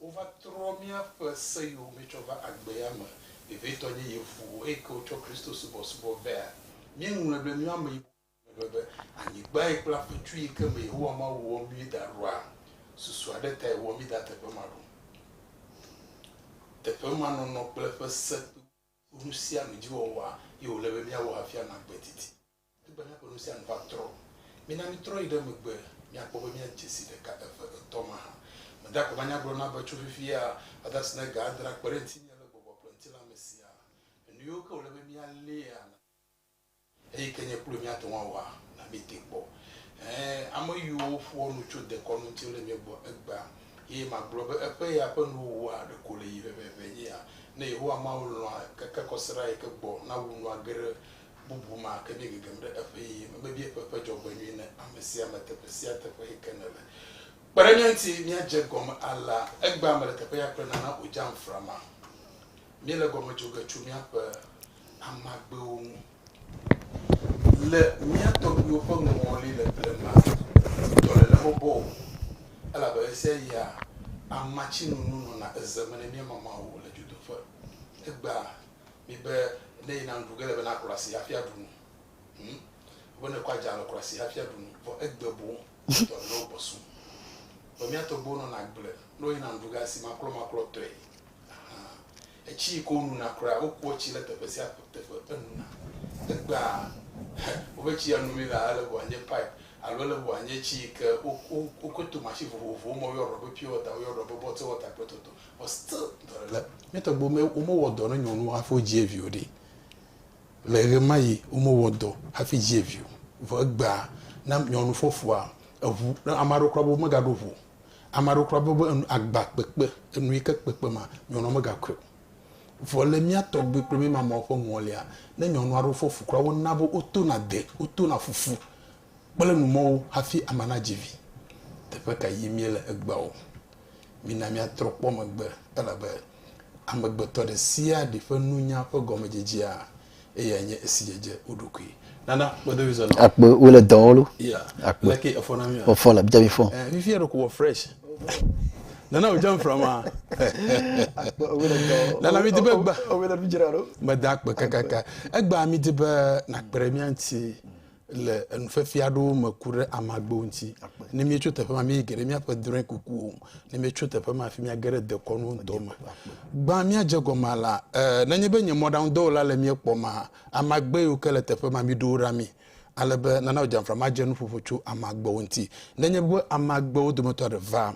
Wova trɔ míaƒe se yiwo míetsɔ va agbea me vevitɔ nye yevu eyike wotsɔ Kristo subɔsubɔ vea. Míeŋlɔe be míawo ameyibɔ ƒe ƒome be anyigbae kple afetsu yike me Yehowa Mawu wɔ mí da ɖoa susu aɖe tae wɔ mí da teƒe ma ɖo. Teƒe ma nɔnɔ kple eƒe se kple eƒe nusianudziwɔwɔa ye wòle be míawɔ hafi anɔ agbe didi. Egbena ƒe nu sia nu va trɔ. Mina mítrɔ yi ɖe megbe míakpɔ be míadze si ɖeka, eve, etɔ̃ mahã. Meda akɔ be anya gblɔ na be tso fifia va ɖe esime ga adre akpe ɖe ŋutinye le gbɔgbɔ kple ŋutilã me siaa. Nuyiwo ke wòle be míaléa na mí, eyi ke nye kloe míate ŋu awɔa, na míetee kpɔ. Ẽ, ameyiwo ƒoa nu tso dekɔnu ŋuti wole mía gbɔ egbea, eye magblɔ be eƒe ya ƒe nuwo wua ɖe ko le yi vevevee nye ya. Ne Yehowa Mawu lɔ̃a, keke kɔsiɖa yi ke gbɔ nawu nu age ɖe bubu ma ke ɖi gegem ɖe eƒe yeyeme be míekpɔ eƒe dzɔgbenyui ne amesiame teƒe sia teƒe yi ke nèle. Kpe ɖe mía ŋuti míadze egɔme alea. Egbea mele teƒe ya kple nana wòdzam frama. Míele gɔme dzo ge tso míaƒe amagbewo ŋu. Le mía tɔgbuiwo ƒe ŋɔli le blema ŋutɔ le ne mebɔ o, elabe ɣesiaɣia amatsinunu nɔna eze me ne míemama wo le dzodoƒe. Egbea Mi be ne yina nuɖu ge ele be naklɔ asi hafi aɖu nu. Hm? Wobe ne kɔ adza alɔ klɔ asi hafi aɖu nu. Vɔ egbe boŋ dɔ ne wogbɔ su. Vɔ mía tɔgbuiwo nɔna agble ne woyina nuɖu ge asi maklɔmaklɔ tɔe. Aha. Etsi yi ke wonuna kura, wokua tsi ɖe teƒe sia teƒe enuna. Egbea, hɛ, wobe tsi ya num mi lea, ele be wòanye pipe alo ele be wòanye tsi yi ke wo, wo, wokɔe to machine vovovowo me. Woyɔɖɔ be pure water, woyɔɖɔ be bottle water kple toto. But still dɔlele mía tɔgbuiwo me womewɔ dɔ ne nyɔnuwo hafi wodzie vi o ɖi. Le ɣemaɣi womewɔ dɔ hafi dzie vi o. Vɔ egbea na nyɔnu fɔfua eŋu ne ame aɖewo kura be womegaɖo ŋu o. Ame aɖewo kura be be enu agba kpekpe enu yi ke kpekpe ma nyɔnua megakɔe o. Vɔ le mía tɔgbui kple mía mamawo ƒe ŋɔlia ne nyɔnu aɖewo fɔ fu kura wona be wotona de wotona fufu kple numɔwo hafi ame nadzi vi. Teƒe ka yim míele egbea o. Mina míatrɔ kpɔ megbe, elabe amegbetɔ ɖe sia ɖe ƒe nunya ƒe gɔmedzedzea eyae nye esi dzedze wo ɖokui. Nana kpedo mi zɔnɔ. Akpe wo le dɔwɔ lo. Yeah. Akpe. Leke efɔ na mi a? Efɔ la bidza mi fɔ. Eh, fifi eɖo ko wɔ fresh. Nana o jam fra ma. Akpe wo le dɔwɔ. Nana mi dibe gba. O le nu jira lo. Meda akpe kakaka. Egba mi dibe na kpere mi anti. le enufefe aɖewo me ku ɖe amagbewo ŋuti ne míetso teƒe ma míeyi ge ɖe míaƒe drɔ̃e kukuwo ne míetso teƒe ma fi míage ɖe dekɔnu ŋutɔ me gbã míadze gɔme la e nenye be nye mɔɖaŋudɔwɔla le mía kpɔm hã amagbe yiwo ke le teƒe ma míɖo wo ɖa mí ale be nana dzamfra madze nuƒoƒo tso amagbewo ŋuti nenye be amagbewo dometɔ aɖe va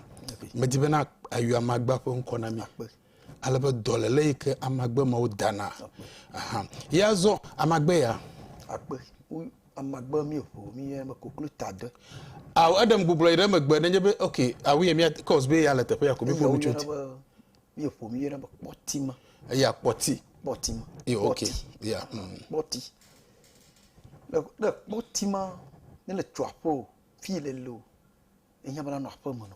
medi be na ayu amagba ƒe ŋkɔ na mí Ale be dɔléle yi ke amagbe mawo dana. Aha. Ye azɔ amagbe ya. Akpe amagbe mi ƒo mi ye me koklo ta de. Aw edem gbublɔ yi ɖe megbe nenye be okay awu ye mi cause be ya le teƒe ya ko mi ƒo mi choti. Mi ƒo mi ye ɖe me kpɔti ma. Ya kpɔti. Kpɔti ma. Yo okay. Ya. Hmm. Kpɔti. Le le kpɔti ma ne le tso aƒe o fi le le o. Enya bana no aƒe me no.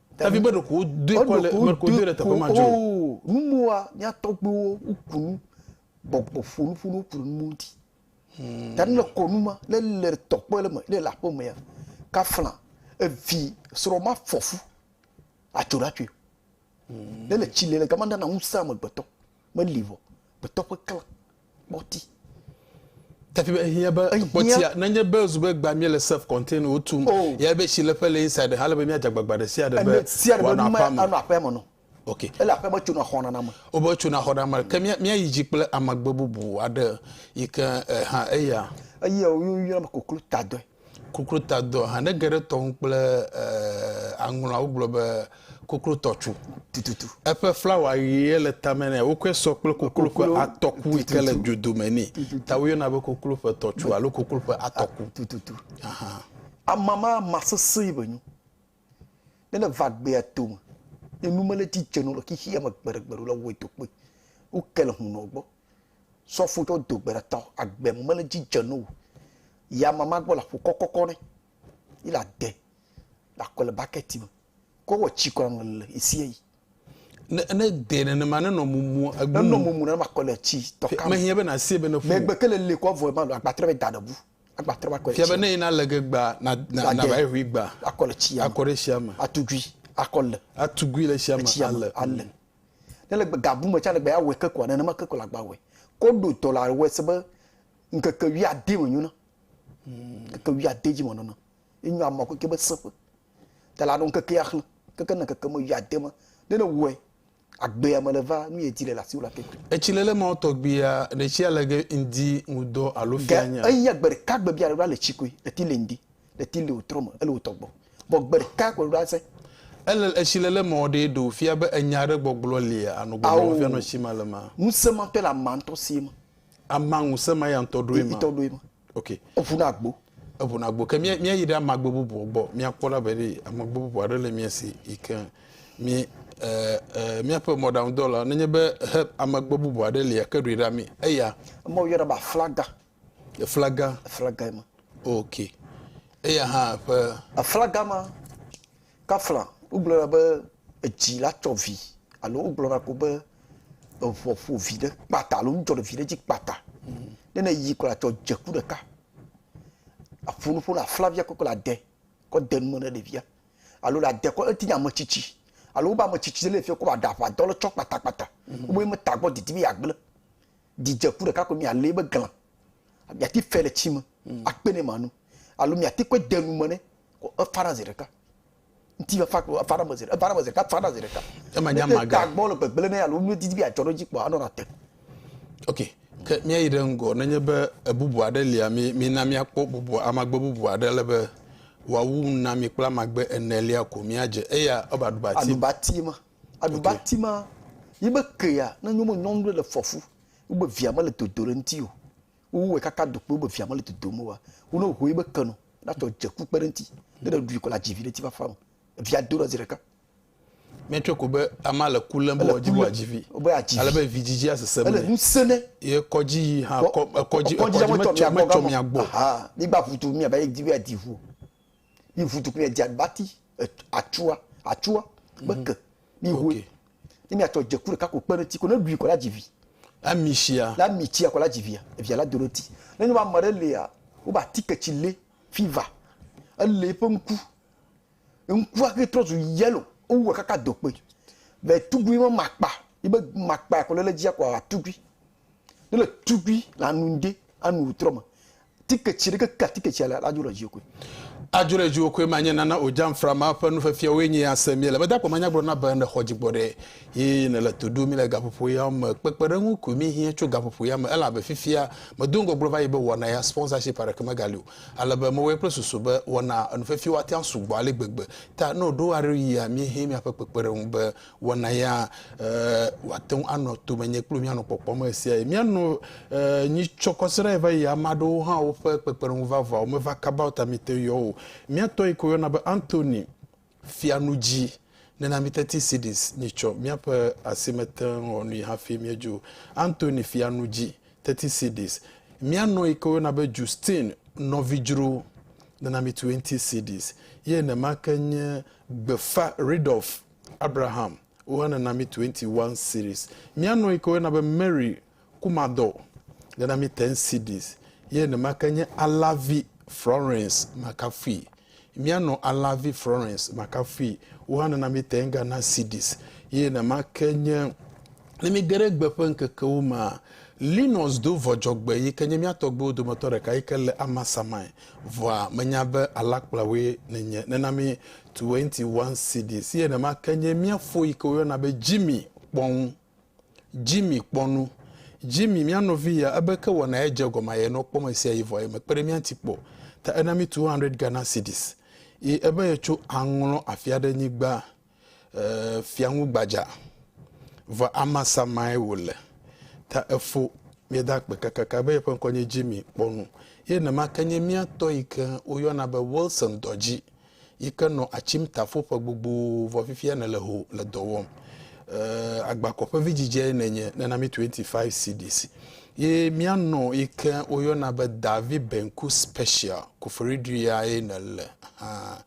David meɖo ku doe kɔ le meɖo ku doe le teƒe ma dzo. Numoa mía tɔgbuiwo woku nu gbɔgbɔ ƒo nuƒo nu ku numo ŋuti. Hmm. Ta ne le kɔnu ma ne le tɔkpe le me ne le aƒemea kafla evi srɔ̃ ma fɔfu atso ɖa tsoe. Hmm. Ne le tsi le le gama nana ŋusẽ amegbetɔ. meli vɔ gbetɔ ƒe klã kpɔti. Tapi be ehia be kpɔtia nenye be zu be gba mia le self contain o tum oh. ya be shi le ƒe le inside ha le be mia jagbagba de sia de be sia de be nu ma anu aƒe me no ok ele aƒe me tuna xɔna na me o be tuna xɔna me ke mia mia yi ji kple amagbe bubu aɖe yi ke eh, ha eya eye o yu yu na koklo ta dɔe Kokrotadɔ, hã ne ge ɖe tɔ ŋu kple aŋlɔa, wogblɔ be kokrotɔ tso tututu. Eƒe flawa ʋee le tame nɛ. Wokɔe sɔ kple koklo ƒe atɔku yi ke le dzodome nɛ. Ta woyɔna be koklo ƒe tɔtsu alo koklo ƒe atɔku. Tututu. Amama ma sesẽe be nyo. Ne ne va gbea to me, ne nu mele edzi dze nɔ le xixi ya me gbeɖegbeɖe o la, wɔe to kpoe. Woke le hunɔ gbɔ. Sɔfo ɖewo do gbe ɖa ta agbe mele dzi dze no o. Yi amama gbɔ le aƒu kɔkɔkɔ ne. Yi la de la kɔ le bucket me. Ko wɔ tsi kɔ le le isia yi. Ne ne de nenema ne nɔ mumu egbu. Ne nɔ mumu ne ma kɔ le tsi tɔ kam. Mehiã be na sie be ne fu. Megbe ke le le kɔ vɔ ma lo agbatrɔ be da ɖebu. Agbatrɔ ba kɔ le tsi. Fia be ne ina le ge gba na na na ba ye hui gba. Akɔ le tsi ya. Akɔ ɖe tsi ya me. Atugui akɔ le. Atugui le tsi ya me ale. Ale. Ne le ga bu me tsã le gbe ya wɔ ke kɔa nenema ke kɔ la gba wɔ. Kɔ ɖo tɔ la wɔ se be nkeke wi ade me nyo na. Hmm, nkeke wi ade dzi me nyo na. Enyo ama ko ke be seƒe. Ta la ɖo nkeke ya xle. Keke ne keke me wi ade me. Ne ne wɔ agbe ya me le va nu ye di le la si wɔ la ke. Etsi le le ma wɔ tɔgbi ya ɖe tsi ya le ge ŋdi ŋudɔ alo fia nya. Ge eyi agbe ɖe ka gbe bia le ɖo ale tsi koe eti le ŋdi. Ɖeti le wò trɔ me, ele wò tɔ gbɔ. Bɔ gbe ɖeka ko ɖo ase. Ele etsi le le mawɔ ɖee ɖo fia be enya aɖe gbɔgblɔ lia anɔ gbɔgblɔ me fia nɔ tsi ma le ma. Ŋusẽ ma tɔ le ama ŋutɔ si ema. Ama ŋusẽ ma ya ŋutɔ ɖo ema. Itɔ ɖo ema. Ok. Eŋu na gbo. Eŋu na gbo. Ke mía mía yi ɖe ama gbe bubu gbɔ mía kpɔ la be ɖe ama gbe bubu aɖe le mía si yi ke mí e e mía ƒe mɔɖaŋudɔwɔla nenye be he ama gbe bubu aɖe lia ke ɖoe ɖa mí eya. Ema wo yɔna be aflaga. Eflaga. Eflaga ma. Ok. Eya hã ƒe. Eflaga ma. Kafla wogblɔna be edzi la tsɔ vi alo wogblɔna ko be eŋɔ ƒo vi ɖe kpata alo ŋdzɔ ɖe vi ɖe dzi kpata. Hmm. Ne ne yi kɔ la tsɔ dzeku ɖeka. Aƒo nuƒo la flavia kɔkɔ la de kɔ de nume ne ɖevia alo la de kɔ eti nya metsitsi alo wobe ametsitsi le fi kɔ ba ɖa ƒa dɔ le tsɔ kpata kpata. Hmm. Wobe me tagbɔ didi be yagble. Dzidze ku ɖeka koe mialé be glã. Miati fe le tsi me akpe nɛ manu. Alo miati kɔe de nu me nɛ ko efana zi ɖeka. Ŋti va fa ko efana me zi ɖeka, efana me zi ɖeka, efana zi ɖeka. Ema nye ama ga. Ne tagbɔ le gbegble nɛ alo nudidi be yeadzɔ ɖe edzi kpoa anɔna te. Ok, ke míayi ɖe ŋgɔ. Nenye be ebubu aɖe lia, mi mina míakpɔ bubu amagbe bubu aɖe ale be wòawu nu na mi kple amagbe enelia ko míadze. Eya ɔba aɖubati. Aɖubati ma. Aɖubati ma yi be kea ne nyɔme nyɔnu ɖe le fɔfu wo be via mele dodo ɖe ŋuti o wowɔe kaka dokpe wo be via mele dodo me wa wo ne hoe be ke no natɔ dze ku kpe ɖe ŋuti ne ɖe ɖui kɔ la dzi vi ɖe ti fafa me via do ɖe zi ɖeka míetsɔe ko be ama le ku lém be wòadzi wòa dzivi ale be vidzidzi asesẽ ele nu sene ye kɔdzi yi hã kɔdzi kɔdzi metsɔ mia gbɔ migba ʋutu mia be di be di ʋu mi ʋutu mia di aɖubati atsua atsua kpe mhm. ke mi hoe okay. ne mi atsɔ dzeku ɖeka ko kpe ɖe ti ko ne ɖui kɔ la dzi vi ami sia na mi tsia kɔ la dzi via via la do ɖe ti ne nyɔma ame ɖe lia wo ba ti ketsi lé fiva elé eƒe ŋku ŋkua ke trɔ zu yellow wowɔ kaka do kpe le tugui ma makpa ibe makpa kɔ le le dzia kɔ atugui Ne le tugui le anu ŋdi anu wutrɔ me tiketsi ɖe keke atiketsia le la dzo ɖe dziwo koe. Adzo ɖe dziwo koe ma nye nana o dzamfra ma ƒe nufiafiawoe nye ya se mi le be dakpɔ ma nyagblɔ na be ne xɔ dzigbɔ ɖe yi ne le to ɖu mi le gaƒoƒo ya me kpekpeɖeŋu koe mi hia tso gaƒoƒo ya me elabe fifia me do ŋgɔgblɔ va yi be wɔna ya sponsorship aɖeke me ga li o ale be me wɔe kple susu be wɔna enufiafiawo atia sugbɔ ale gbegbe ta ne o ɖo aɖe yia mi hia miaƒe kpekpeɖeŋu be wɔna ya wòate ŋu anɔ tome nye kple míanɔ kpɔkpɔm ɣe sia ɣi. Míanɔ nyi tsɔ kɔsiɖa yi va yi ame aɖewo hã woƒe kpekpeɖeŋu vavãwo meva kaba o ta míete yɔ o. Mía tɔ yi ke woyɔna be Anthony fia nu dzi nena mí teti CDs nyi tsɔ míaƒe asi mete ŋu wɔ nui hafi míedzo. Anthony fia nu dzi teti CDs. Mía nɔ yi ke woyɔna be Justine nɔvi dzro nena mí twenty CDs ye nenema ke nye gbefa Ridolf Abraham woe ne na mi twenty one cedis. Mía nɔ yi ke woe na be Mary Kumadɔ le na mi ten cedis. Ye nema ke nye Alavi Florence Makafui. Mía nɔ Alavi Florence Makafui wohã ne na mi ten Ghana cedis. Ye nema ke nye ne mi ge ɖe gbe ƒe ŋkekewo mea, Linus Dovɔdzɔgbe yi ke nye mía tɔgbuiwo dometɔ ɖeka yi ke le Amasamai Vɔa menya be alakplawoe nènye, nèna mi Twenty One CD si enema ke nye mía fo yi ke woyɔna be Jimmy kpɔ ŋu. Jimmy kpɔ nu. Jimmy, mía nɔvi ya, ebe ke wɔna ye dze egɔme aye nɔ kpɔ me sia yi vɔa ye mekpe ɖe mía ŋuti kpɔ o. Ta ena mi two hundred Ghana cedis. Yi ebe yetso aŋlɔ afi aɖe nyigba. Ee, fiaŋu gbadza, vɔ Amasa mae wòle. Ta efo, míeda akpe kakaka be yeƒe ŋkɔ nye Jimmy, kpɔ nu. Ye nema ke nye mía tɔ yi ke woyɔna be Wilson dɔ dzi, yi ke nɔ atsim tafo ƒe gbogbo, vɔ fifia nèle ho le dɔ wɔm. Ee, agbakɔƒe vidzidzeae nènye, nena mí 25 cedis. Ye mía nɔ yi ke woyɔna be Davi Benku Special, Koforidui yae nèle hã.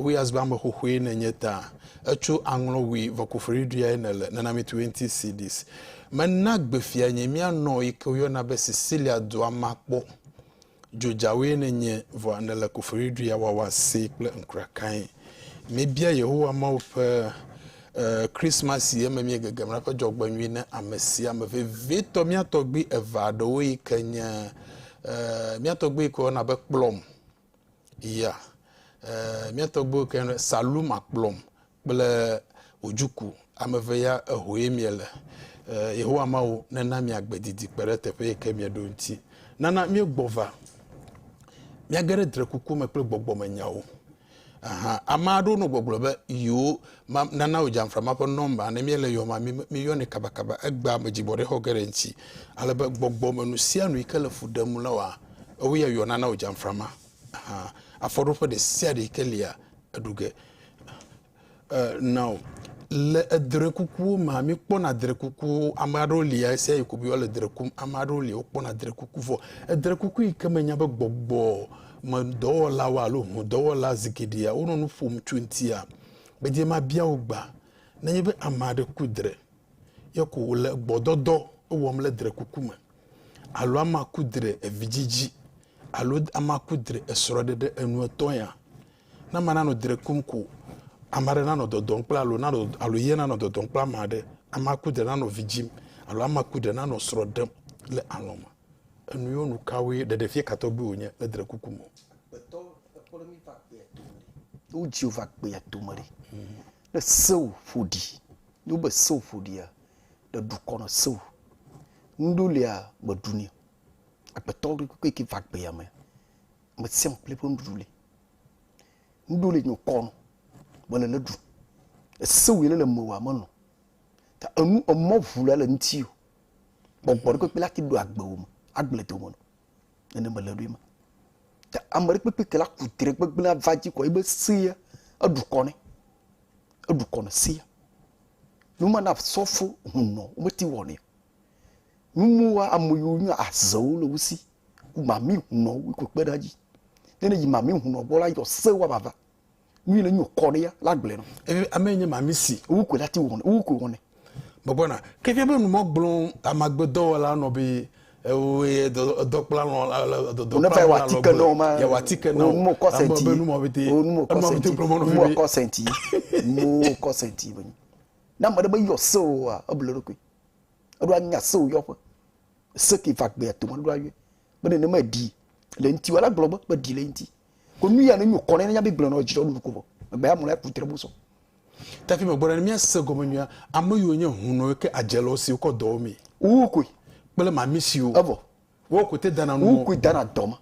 Ŋuiazgbame xoxoe nènye ta. Etso aŋlɔ ŋui vɔkofoɖiɖiae nèle, nɔnɔmetue ŋuti Sidis. Mena gbe fianye míanɔ yi ke woyɔna be Sicilia dua ma kpɔ. Dzodzawoe nènye, vɔa nèle kofoɖiɖia wawa see kple ŋkuɖakae. Míebia Yehowa Mawu ƒe Krismas si eme míegegem la ƒe dzɔgbenyui na amesiame, vevitɔ mía tɔgbui eve aɖewo yi ke nye mía tɔgbui yi ke woyɔna be Kplɔm Ya, eh, mía tɔgbuiwo ke ne Saluma kplɔm kple wòdzuku ame eve ya ehoe miele. Eh, Yehowa Mawu nena miagbe didi kpe ɖe teƒe yi ke mieɖo ŋuti. Nana míegbɔ va. Míage ɖe drekuku me kple gbɔgbɔmenyawo. Aha, ame aɖewo nɔ gbɔgblɔ be yewo Ma, nana wò dzamfra ma ƒe nɔmba. Ne míele yɔ ma, míyɔnɛ kabakaba. Egbea ame dzigbɔɖixɔ geɖe ŋuti, ale be gbɔgbɔ me nu sia nu yi ke le fu ɖem le woa, ewoe yɔ nana wò dzamfra ma. Hã, afɔɖoƒe ɖe sia ɖe yi ke lia, eɖu ge. E, nao. Le edre kukuwo mea, míkpɔna dre kukuwo. Ame aɖewo li ɣesia ɣi ko be yewoa le dre kum. Ame aɖewo li wokpɔna dre kuku. Vɔ, edre kuku yi ke menya be gbɔgbɔ me dɔwɔlawo alo ŋudɔwɔla zi geɖea wonɔ nu ƒom tso eŋutia, Gbedie mabia wò gbea, nenye be ame aɖe ku dre ye ko wòle gbɔdɔdɔ wɔm le drekuku me, alo amea ku dre evidzidzi, alo amea ku dre esrɔ̃ɖeɖe enuetɔ̃ ya. Ne amea nanɔ dre kum ko, ame aɖe nanɔ dɔdɔm kple alo nanɔ alo ye nanɔ dɔdɔm kple ame aɖe, amea ku dre nanɔ vi dzim, alo amea ku dre nanɔ srɔ̃ ɖem le alɔ̃ me. Enuionu kawoe ɖeɖefia ka tɔgbi wònye le drekuku me? Gbetɔ ekpɔɖe mi va kpea tome ɖi. Ne wodzi wò va kpea tome ɖi. Ne sewo ƒo ɖi. Ne wobe sewo ƒo ɖia, ɖe ɖukɔ nɔ sewo. Nuɖewo lia meɖu nɛ o. Agbetɔ ɖekpekpe ke va gbea me, ame sia ame kple eƒe nuɖuɖu li. Nuɖewo li nyɔ kɔ nɔ mele le ɖu. Esewo yi ne le mewòa melɔ. Ta enu emɔ ŋu la le ŋuti o. Gbɔgbɔ ɖekpekpe la ti ɖo agbe wo me, agble dome no. Nene mele ɖoe ma. Ta ame ɖekpekpe ke la ku tre gbegblẽ ava dzi kɔ ebe sea eɖu kɔ ne. Eɖu kɔ ne sea. Numa na sɔfo hunɔ wometi wɔ ne. Numuwa ame yiwo nyo azewo le wusi. Ku mami hunɔ wu kpekpe ɖe dzi. Nene yi mami hunɔ gbɔ la yɔ se wa bava. nu yi ne nyo kɔ ɖe ya la gblɔe nɔ eye ame nye ma mi si wu koe la ti wɔnɛ wu koe wɔnɛ megbɔna ke fia be nu mɔ gblɔ amagbedɔwɔla nɔ be eye dɔkpla lɔ le dɔdɔ kpla lɔ lɔ gbe ya wa ti ke na o mo kɔ senti be nu mɔ bete nu mɔ kɔ senti nu mɔ kɔ senti mo kɔ senti be na mɔ de be yɔ se o wa eble ɖo koe eɖo anya se o yɔ ƒe se ke va gbe ya to mɔ ɖo ayɔ be ne ne me di le ŋti wa la gblɔ be be di le ŋti ko nu ya ne nyu kɔnɛ ne nyabe gblẽ nɔ jidɔ nuɖuku vɔ megbe ya mlɔ ya kutre mu sɔ tafi me gbɔdɔ ne mía se gɔme nyuia ame yiwo nye hunɔ ke adze le osiwo kɔ dɔwo mi wu koe kple mami siwo evɔ wo koe te dana nu wu koe dana dɔme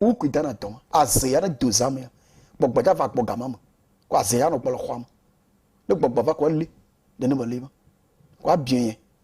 wu koe dana dɔme aze ya ne do zame ya gbɔgbɔ ja va gbɔ gama me ko aze ya nɔ gbɔ le xɔa me ne gbɔgbɔ va ko ele nene me le ma ko abiɛ yɛ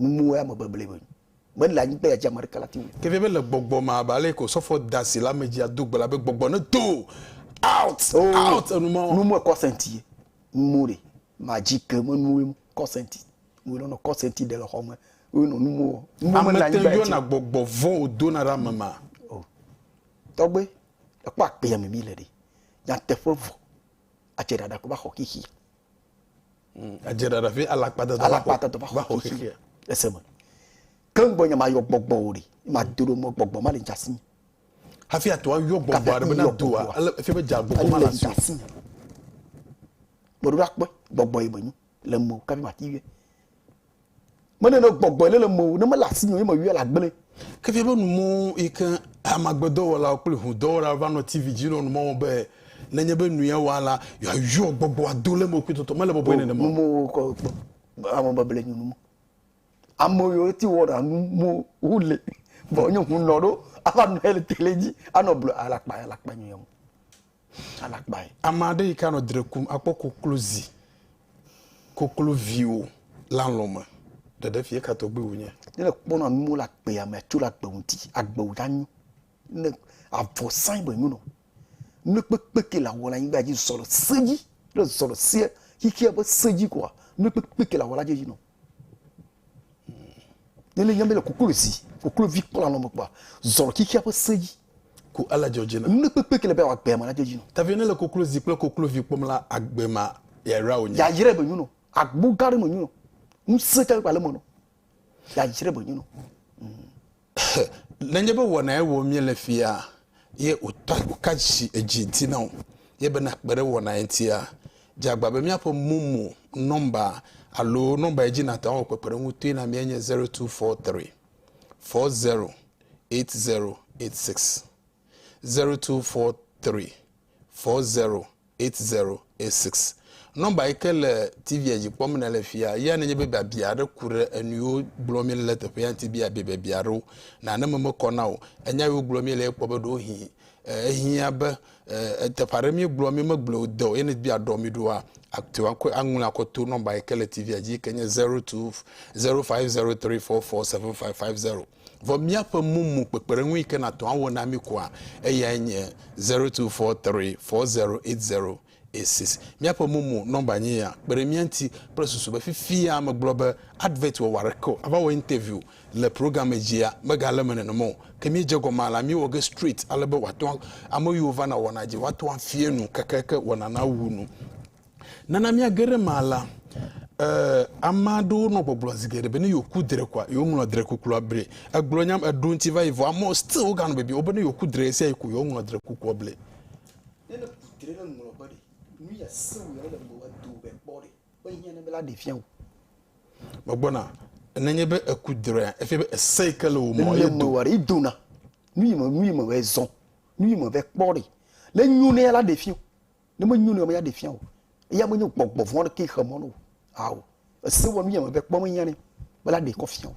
Numuwɔe ame bebleɛ be me le anyigba ya dzi ame aɖeke lati ŋu. Kevie be le gbɔgbɔ ma abe ale ko sɔfɔ da si le ame dzi ado gbe la be gbɔgbɔ ne do out out enu ma o. Nu mue kɔ senti ye nu mo ɖe ma dzi ke me nuwe mo kɔ senti nu lɔ nɔ kɔ senti ɖe le xɔ me we nɔ nu mo wɔ nu mo me le anyigba ya dzi. Ame te yɔna gbɔgbɔ vɔ o do na ɖe ame ma. O tɔgbe ekpɔ akpe ya me mi le ɖe nyateƒe vɔ adze ɖaɖa ko ba xɔ xixi eseme ke ŋgbɔ nya mayɔ gbɔgbɔ o ɖi mado ɖo mɔ gbɔgbɔ ma le dza si hafi ato ayɔ gbɔgbɔ aɖe bena doa ele efi be dza gbɔgbɔ ma le dza si gbɔɖo akpɔ gbɔgbɔ yi menyo le mo kafi ma ti yɛ Mene ne gbɔgbɔe ne le mewò, ne mele asinye o, ye meyɔe le agble. Ke fia be numɔ̃wo yi ke amagbedɔwɔlawo kple ʋudɔwɔlawo va nɔ TV dzi nɔ numɔ̃ wɔm be nenye be nu ya wɔa la, yewoayɔ gbɔgbɔ ado le eme kpɔtɔtɔ. Mele bɔbɔe nenema o. Numɔ̃wo kɔ kpɔ. Ame bebleɛ nyo numɔ̃. Ame yiwo te wɔna numɔ̃wo le vɔ nye ŋunɔ ɖo ava nɔɛ le tele dzi anɔ blɔ alakpa alakpa nyo ya mo. Alakpae. Ame aɖe yi ke anɔ dre kum akpɔ koklozi, kokloviwo le alɔ̃ me. Ɖeɖe fie ka tɔgbi wònye. Ne èkpɔna nuwo le agbea mea, tso ɖe agbe ŋuti. Agbe wò ɖa nyo. Ne avɔ sãe be nyo nɔ. Nu kpekpe ke le awɔ le anyigba dzi zɔ le se dzi. Ne èzɔ le sea, xexea be se dzi kɔa, nu kpekpe ke le awɔ la dze yinɔ. Ne ne nyame le koklo zi, koklo vi kpla nɔ me kpa, zɔrɔ kikya ƒe se dzi. Ko ele dzɔ dzi na. Nu ne kpekpe ke le be awa gbea ma na dzɔ dzi nɔ. Tavie ne le koklo zi kple koklo vi kpɔm la agbe ma ya yra wo nyi. Ya yire be nyu nɔ. Agbo gã ɖe me nyu nɔ. Nu se ka kpa le me nɔ. Ya yire be nyu nɔ. Nenye be wɔnae wɔm míele fia ye wòta ka dzi edzi ŋuti na wò ye be nàkpe ɖe wɔnae ŋutia, dze agbagba be míaƒe momo nɔmba alo nɔmba yi dzi nàte ŋu awɔ kpekpeɖeŋu toe na míae nye 0243 408086, 0243 four zero eight zero eight six nɔmba yi ke le tivia dzi kpɔm nèle fia ya nenye be biabia aɖe ku ɖe enuwo gblɔ mi le teƒea ŋuti bia biabia aɖewo nane me mekɔ na o enya yiwo gblɔ mi le ekpɔ be ɖewo hi ehiã be eteƒe aɖe mi gblɔ mi megblɔ o de o ene bia ɖɔ mi ɖoa ate ŋu akɔ aŋlɔ akɔ to nɔmba yi ke le tivia dzi ke nye zero two zero five zero three four four seven five five zero Vɔ míaƒe mumu kpekpeɖeŋu yi ke nàtɔ awɔ na mí koa, eyae nye zero two four three four zero eight zero eight six. Míaƒe mumu nɔmba nye ya. Kpe ɖe mía ŋuti kple susu be fifia megblɔ be advert wɔwɔ aɖeke o, ava wɔ interview le programme dzia, megale eme nenema o. Ke míedze egɔme alea, míewɔ ge straight ale be wòate ŋu, ame yiwo vana wɔnaa dzi, woate ŋu afia nu kekeake wɔnaa nawu nu. Nana míage ɖe ema la, ee, ame aɖewo nɔ gbɔgblɔ zi geɖe be ne yewoku dre koa, yewoŋlɔ dre kukua ble. Egblɔ nya eɖo ŋuti va yi vɔ amewo still woganɔ bibi wo be ne yewoku dre ɣesia ɣi ko yewoaŋlɔ dre kukua ble. Ne nèku dre ɖe ŋlɔ be ɖe, nu ya sẽ wò ya ele ŋgɔ wɔ do be kpɔ ɖe be hiã ne be la ɖe fia wò. Megbɔna ne nye be eku drea efia be ese yi ke le wò me ye do. Ele dona nu yi me nu yi me wɔ zɔ nu yi me va kpɔ ɖe le nyo ne ya la ɖe fia wò. Ne menyo ne menya ɖe fia o. Eya menye gbɔgbɔ vɔn ɖe ke xe mɔ no. Ao. Ese wa nu yame be kpɔ menya ne bela ɖe kɔ fia o.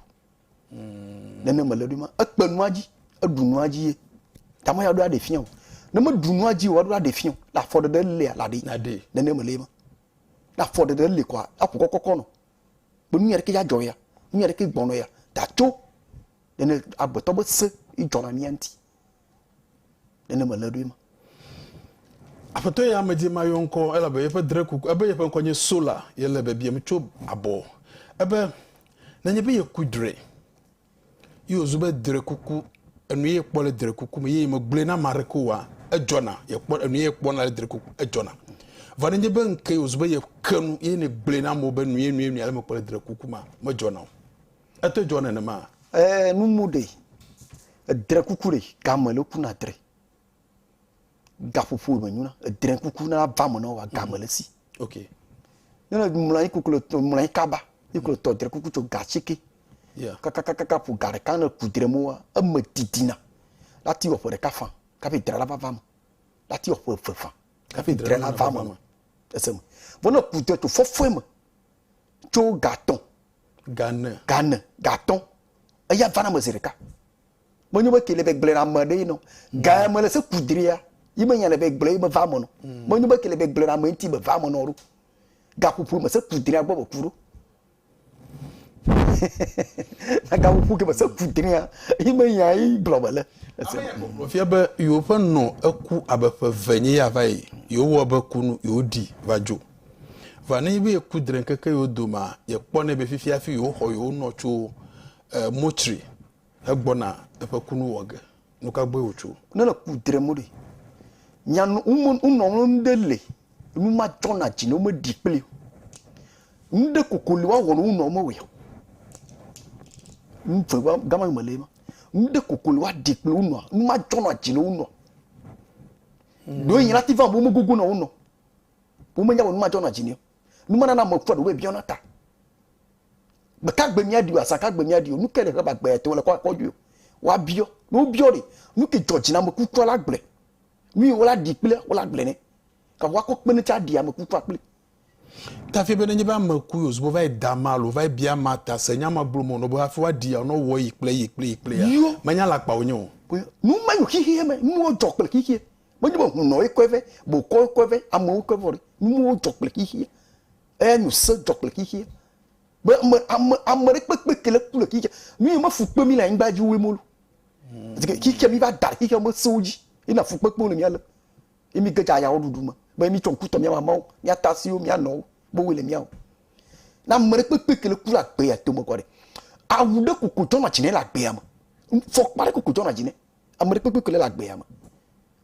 Hmm. Ne ne mele ɖe ma ekpe nua dzi, eɖu nua dzi ye. Tama ya ɖo aɖe fia o. Ne me ɖu nua dzi o, aɖo aɖe fia o. La fɔ ɖe ɖe le la ɖe. La ɖe. Ne ne mele ma. La fɔ ɖe ɖe le kwa, la ƒo kɔkɔkɔ nɔ. Be nu ya ɖe ke ya jɔ ya, nu ya ɖe ke gbɔnɔ ya, da tso. Ne ne agbetɔ be se, i jɔ na mia nti. Nene mele ɖoe ma. Aƒetɔ ya me di mayɔ ŋkɔ elabe yeƒe dre ku ebe yeƒe ŋkɔ nye Sola. Yele biabiam tso abɔ ebe nenye be yeku dre ye wòzu be dre kuku enu ye kpɔ le dre kuku me ye megblɔe na ame aɖeke oa, edzɔna yekpɔ enu ye kpɔna le dre kuku edzɔna. Vɔ nenye be ŋkee wòzu be yeke nu ye negblɔe na amewo be nu ye nu ye nu ale mekpɔ le dre kuku ma medzɔna o. Ete dzɔ nenema? E nu mu ɖe edre kuku ɖe game le ku na dre gaƒoƒo me nyu na edre kuku na va me na wa game le si ok ne le mla yi kuku le to mla yi kaba yi kuku le to dre kuku to gatsi ke yeah kaka kaka kaka pu gare kan le ku dre mo wa e me didina la ti wa pore ka fa ka pe dre la va va me la ti wa pore fe fa ka pe dre la va me ese me bona ku dre to fofo me tso gaton Gane. Gane, gatɔ. Eya vana me zeɖeka. Menyo be kele be gblena me ɖe nɔ. Mm. Ga me le se kudria. Yi me nya le be gblena me va me nɔ. Mm. Menyo be kele be gblena me nti me va me nɔ ro. Ga pupu me se kudria gbɔ be kuro. Na ga pupu ke me se kudria. Yi me nya yi gblɔ me le. Ese. Fia be yo ƒe nɔ eku abe ƒe ve nye ya va yi. Yo wɔ be kunu yo di va jo. Vɔ nenye be yeku dre ŋkeke yewo domea, yekpɔnɛ be fifia hafi yewoxɔ yewonɔ tso eh, Motsri hegbɔna eƒe kunu wɔ ge. Nu ka gbɔe wòtso? Ne le ku dre mo ɖe, nya nu wome wonɔ ŋlɔ nu ɖe le nu ma dzɔna dzi ne womeɖi kpli o. Nu ɖe koko li woawɔ ne wonɔ mewɔe o. Nu vegba gama yi mele ema. Nu ɖe koko li woaɖi kpli wonɔ nu ma dzɔna dzi ne wonɔ. Ɖo yi la ti va be womegogo na wonɔ. Womenya be nu ma dzɔ na dzi ni. Nu ma nana ame kufua ɖewo biɔna ta be ka gbe mía ɖi o, azã ka gbe mía ɖi o, nu ke le heba gbe ya te wole kɔ kɔɖi o. Woa biɔ, ne wo biɔ ɖe, nu ke dzɔ dzi na ame kufua la gblɔe. Nu yi wola ɖi kple wola gblɔe ne. Ka woa kɔ kpena tse aɖi ame kufua kple. Ta fia be ne nye be ame ku yo zubo va yi da ma alo va yi bia ma ta se nya ma gblɔ me o nɔ be hafi woa ɖi ya nɔ wɔ yi kple yi kple yi kple ya, menya le akpawò nye o. Nu ma yo xixeame, nu wo dzɔ kple xixeɛ. Menye be hunɔ ye kɔe vɛ, bokɔ ye kɔe vɛ, amewo kɔe vɔ ɖe. Nuwo dzɔ kple xexeɛ. Eya nyo se dzɔ kple xexeɛ. Be ame, ame, ame ɖe kpekpe ke le ku le xexeɛ. Nu yi me fu kpe mí le anyigba dzi woe molu. Zi ke xexeɛ mí va da ɖe xexeɛ me sewo dzi. Ye na fu kpekpewo le mía lem. Ye mí ge dza ayawo ɖuɖu me. Be mí tsɔ ŋku tɔ mía mamawo, mía tasiwo, mía nɔwo be woe le mía o. Ne ame ɖe kpekpe ke le ku le agbe ya tome kɔ ɖe, awu ɖe koko dzɔna dzi nɛ le agbea me. Fɔkpa ɖe koko dzɔna dzi nɛ. ame ɖe kpekpe kele le agbea me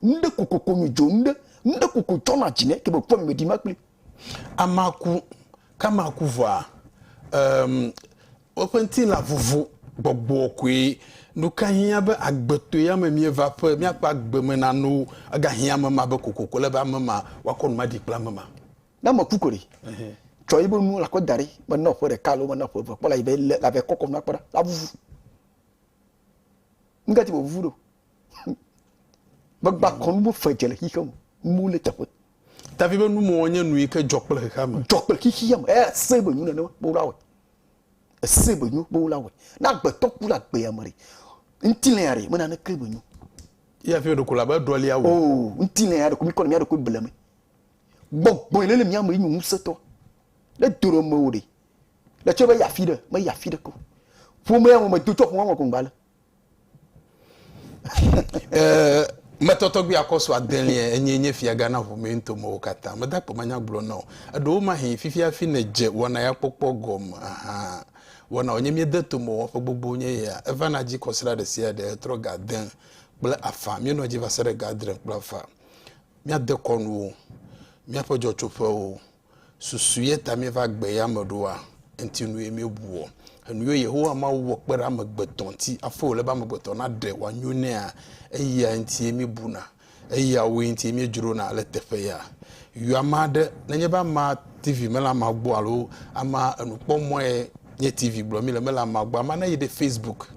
nuɖe kokoko mi dzo nuɖe nuɖe koko tsɔ na dzi ne ke be kpɔ mi ɖi ma kpli amaku kamaku vɔa um, woƒe ŋuti la vuvu gbɔgbɔ koe nuka hiã be agbetɔ ya me mieva ƒe miakpɔ agbe me na no ega hiã me ma be kokoko le be ame ma wakɔ nu ma ɖi kple ame ma na me ku kore tsɔ yi be nu la kɔ da ɖi me na ƒe ɖeka lo me na ƒe ve kpɔ la yi be la be kɔkɔ nu akpɔ la vuvu Nga ti vovu ɖo. Gbagba kɔnu bo fe dze le xixe mo. Mu le teƒe. Davi be nu mo nye nu yi ke dzɔ kple xexea me. Dzɔ kple xixia me. Eya se be nu nene ma bo la wɔ. Ese be nu bo la wɔ. Na gbetɔ ku la gbe ya mari. Nti le ya re me na ne ke be nu. Ya fi ɖoko la be ɖɔ lia wo. O, nti le ya ɖoko mi kɔ le mi ɖoko ble me. Gbɔgbɔ yi le le mi ame yi nyu ŋusetɔ. Le doro me wo de. Le tso me yafi ɖe, me yafi ɖe ko. Ƒome ya mo me do tso ƒome mo ko ngbale. Eh, me tɔtɔ gbi akɔ so adelia enye nye fia gana ƒome mi nto mo kata. Me da kpɔ ma nya gblɔ no. Eɖo wo ma hin fifi afi ne je wɔna ya kpɔkpɔ gɔm. Aha. Wɔna onye mi de to mo wɔ ƒe gbogbo nye ya. Eva na ji kɔsra ɖe sia ɖe etrɔ ga de kple afa. Mi nɔ ji va se ɖe ga dre kple afa. Mi ade kɔnu wo. Mi aƒe jɔ tso ƒe wo. Susu ye ta míeva gbe ya me ɖoa? Eŋuti nu ye míebua? Enu ye Yehowa Mawu wɔ kpe ɖe amegbetɔ ŋuti hafi wòle be amegbetɔ naɖe wòanyo nɛa? Eyae ŋuti ye míebuna, eyawoe ŋuti ye míedzrona le teƒeya. Yɔ ame aɖe. Nenye be amea TV mele amea gbɔ alo amea enukpɔmɔ̃e nye TV gblɔ mí le, mele amea gbɔ, amea neyi ɖe Facebook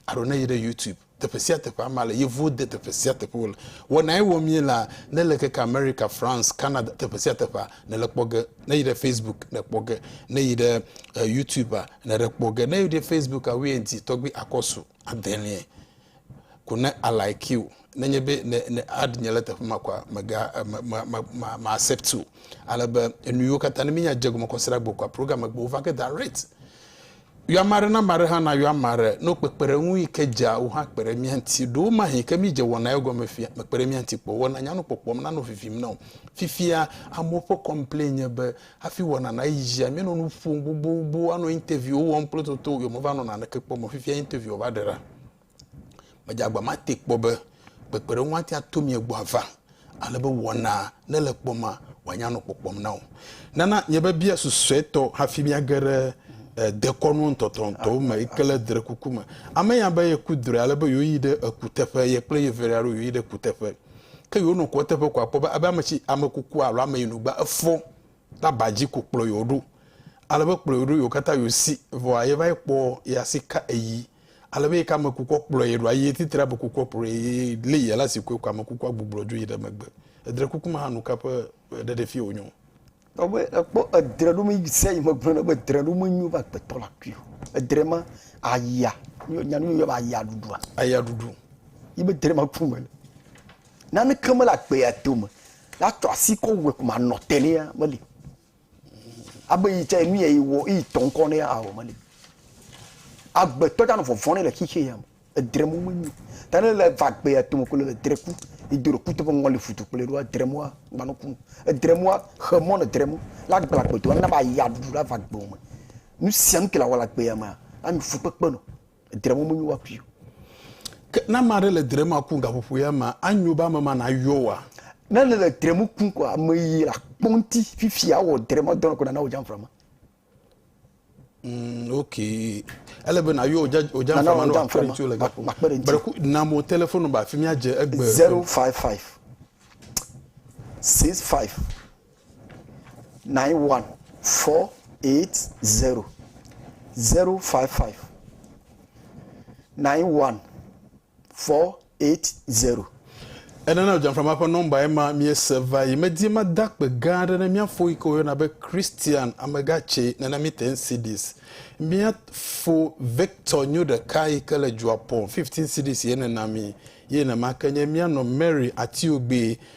alo neyi ɖe YouTube teƒe sia teƒe ama le yevuwo de teƒe sia teƒe wole wɔnae wɔ mie la ne le keke america france canada teƒe sia teƒe ne le kpɔ ge ne yi ɖe facebook ne kpɔ ge ne yi ɖe uh, youtube a ne ɖe kpɔ ge ne yi ɖe facebook a wíyɛ ŋti tɔgbi akɔsu adɛnɛ ko ne alike o ne nye be ne ne ad nye le teƒe ma kwa mega eh, ma ma ma ma, ma accept o ale be enuyiwo katã ne mi nya dze gɔme kɔsira gbɔ kwa program gbɔ va ke direct Yɔ ame aɖe na ame aɖe hã nayɔ ame aɖe ne wokpekpe ɖe eŋu yi ke dzea wò hã kpe ɖe mía ŋuti. Ɖewo mahee yi ke mídze wɔna ye gɔme fia mekpe ɖe mía ŋuti kpɔ o. Wɔna nyanu kpɔkpɔm nanɔ vivim na wò. Fifia amewo ƒe kɔmplen nye be hafi wɔna nayi dzia míenɔ nu ƒom gbogbogboo, anɔ interviewwo wɔm kple toto, yewomeva nɔ naneke kpɔm o. Fifia interview va ɖe ɖa. Medze agbamate kpɔ be kpekpeɖeŋu atea to mia gbɔ ava ale be wɔna ne le kpɔ ma wòanya nɔ kpɔkpɔm na wò. Nana miebe bia susuetɔ hafi miage ɖe eh, dekɔnu ŋutɔtɔŋutɔwo me yi ke le dre kuku me. Ame ya be yeku drɔe ale be yewoyi ɖe ekuteƒe, ye kple yevelia ɖo yewoyi ɖe kuteƒe. Ke yewonɔ ku eteƒe ko akpɔ be abe ame tsi, ame kuku alo ame yi nu gba efɔ. ɖe aba dzi ko kplɔ yewo ɖo. Ale be kplɔ yewo ɖo yewo katã yewo si. Vɔa ye va yi kpɔ ye asi ka eyi. Ale be yi ke ame kukua kplɔ ye ɖoa, ye titri ame kukua kplɔ ye ye li ye le asi koe ko ame kukua gbublɔ dzo yi ɖe megbe. Edre kuku me hã nuka ƒe ɖeɖefia wonye o? Kpɔ be ekpɔ edre ɖo me sia yi megblɔ na be edre ɖo menyo be agbetɔ la kui o. Edre ma aya, nya nu yɔna be aya ɖuɖua? Aya ɖuɖu. Yi be edre ma ku mele. Naneke mele agbea dome. Ya tsɔ asi kɔ wɛ kuma nɔ te ne ya meli. Abe yi tse nu ya yi wɔ yi tɔ ŋkɔ ne ya awɔ meli. Agbetɔ tsa nɔ vɔvɔ ne le xixe ya me. Edre mo me nyi. Ta ne le va gbe ya tome ko le edre ku. Yi do ɖe ku teƒe ŋɔ li futu kple ɖoa edre moa gba no ku. Edre moa xe mɔ ne edre mo la gble agbedoa na ba ya ɖuɖu la va gbe me. Nu sia nu ke la wɔ le agbe ya mea la nyi fukpekpe nɔ. Edre mɔ menyo woakui o. Ke ne ame aɖe le dre ma kum gaƒoƒo ya mea, anyo be ame ma nayɔ wa? Ne ne le dre mu kum kɔ ame yi la kpɔ ŋuti fifi awɔ dre ma dɔnɔ ko nana wo dzamfra ma. Mm, ok. Ele be nayɔ wo dzamfra ma no akpɔ ɖe ŋuti le gaƒo. Breku na mo telefonu ba fi mia dze egbe. 055 65 nine one four eight zero zero five five nine one four eight zero. Enana Dzamframa ƒe nɔmba ye ma míese va yi. Medi mada akpe gã aɖe ne mía fo yi ke woyɔna be Christian Amegatse nana mí ten cedis. Mía fo Victor nyo ɖeka yi ke le Dzuapɔn fifteen cedis ye nena mí. Ye nema ke nye mía nɔ Mary Atiogbe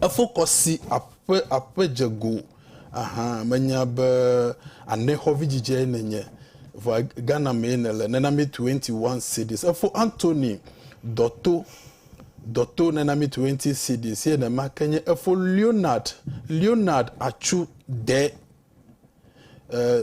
Efo kɔ si aƒe aƒe dze go ahan menya be ane xɔvi dzidzeae nenye. Vɔa Ghana mee nele nenami 21 cedis. Efo Anthony Dɔto Dɔto nenami 20 cedis ye nema ke nye efo Leonard Leonard Atsu Dɛ eh,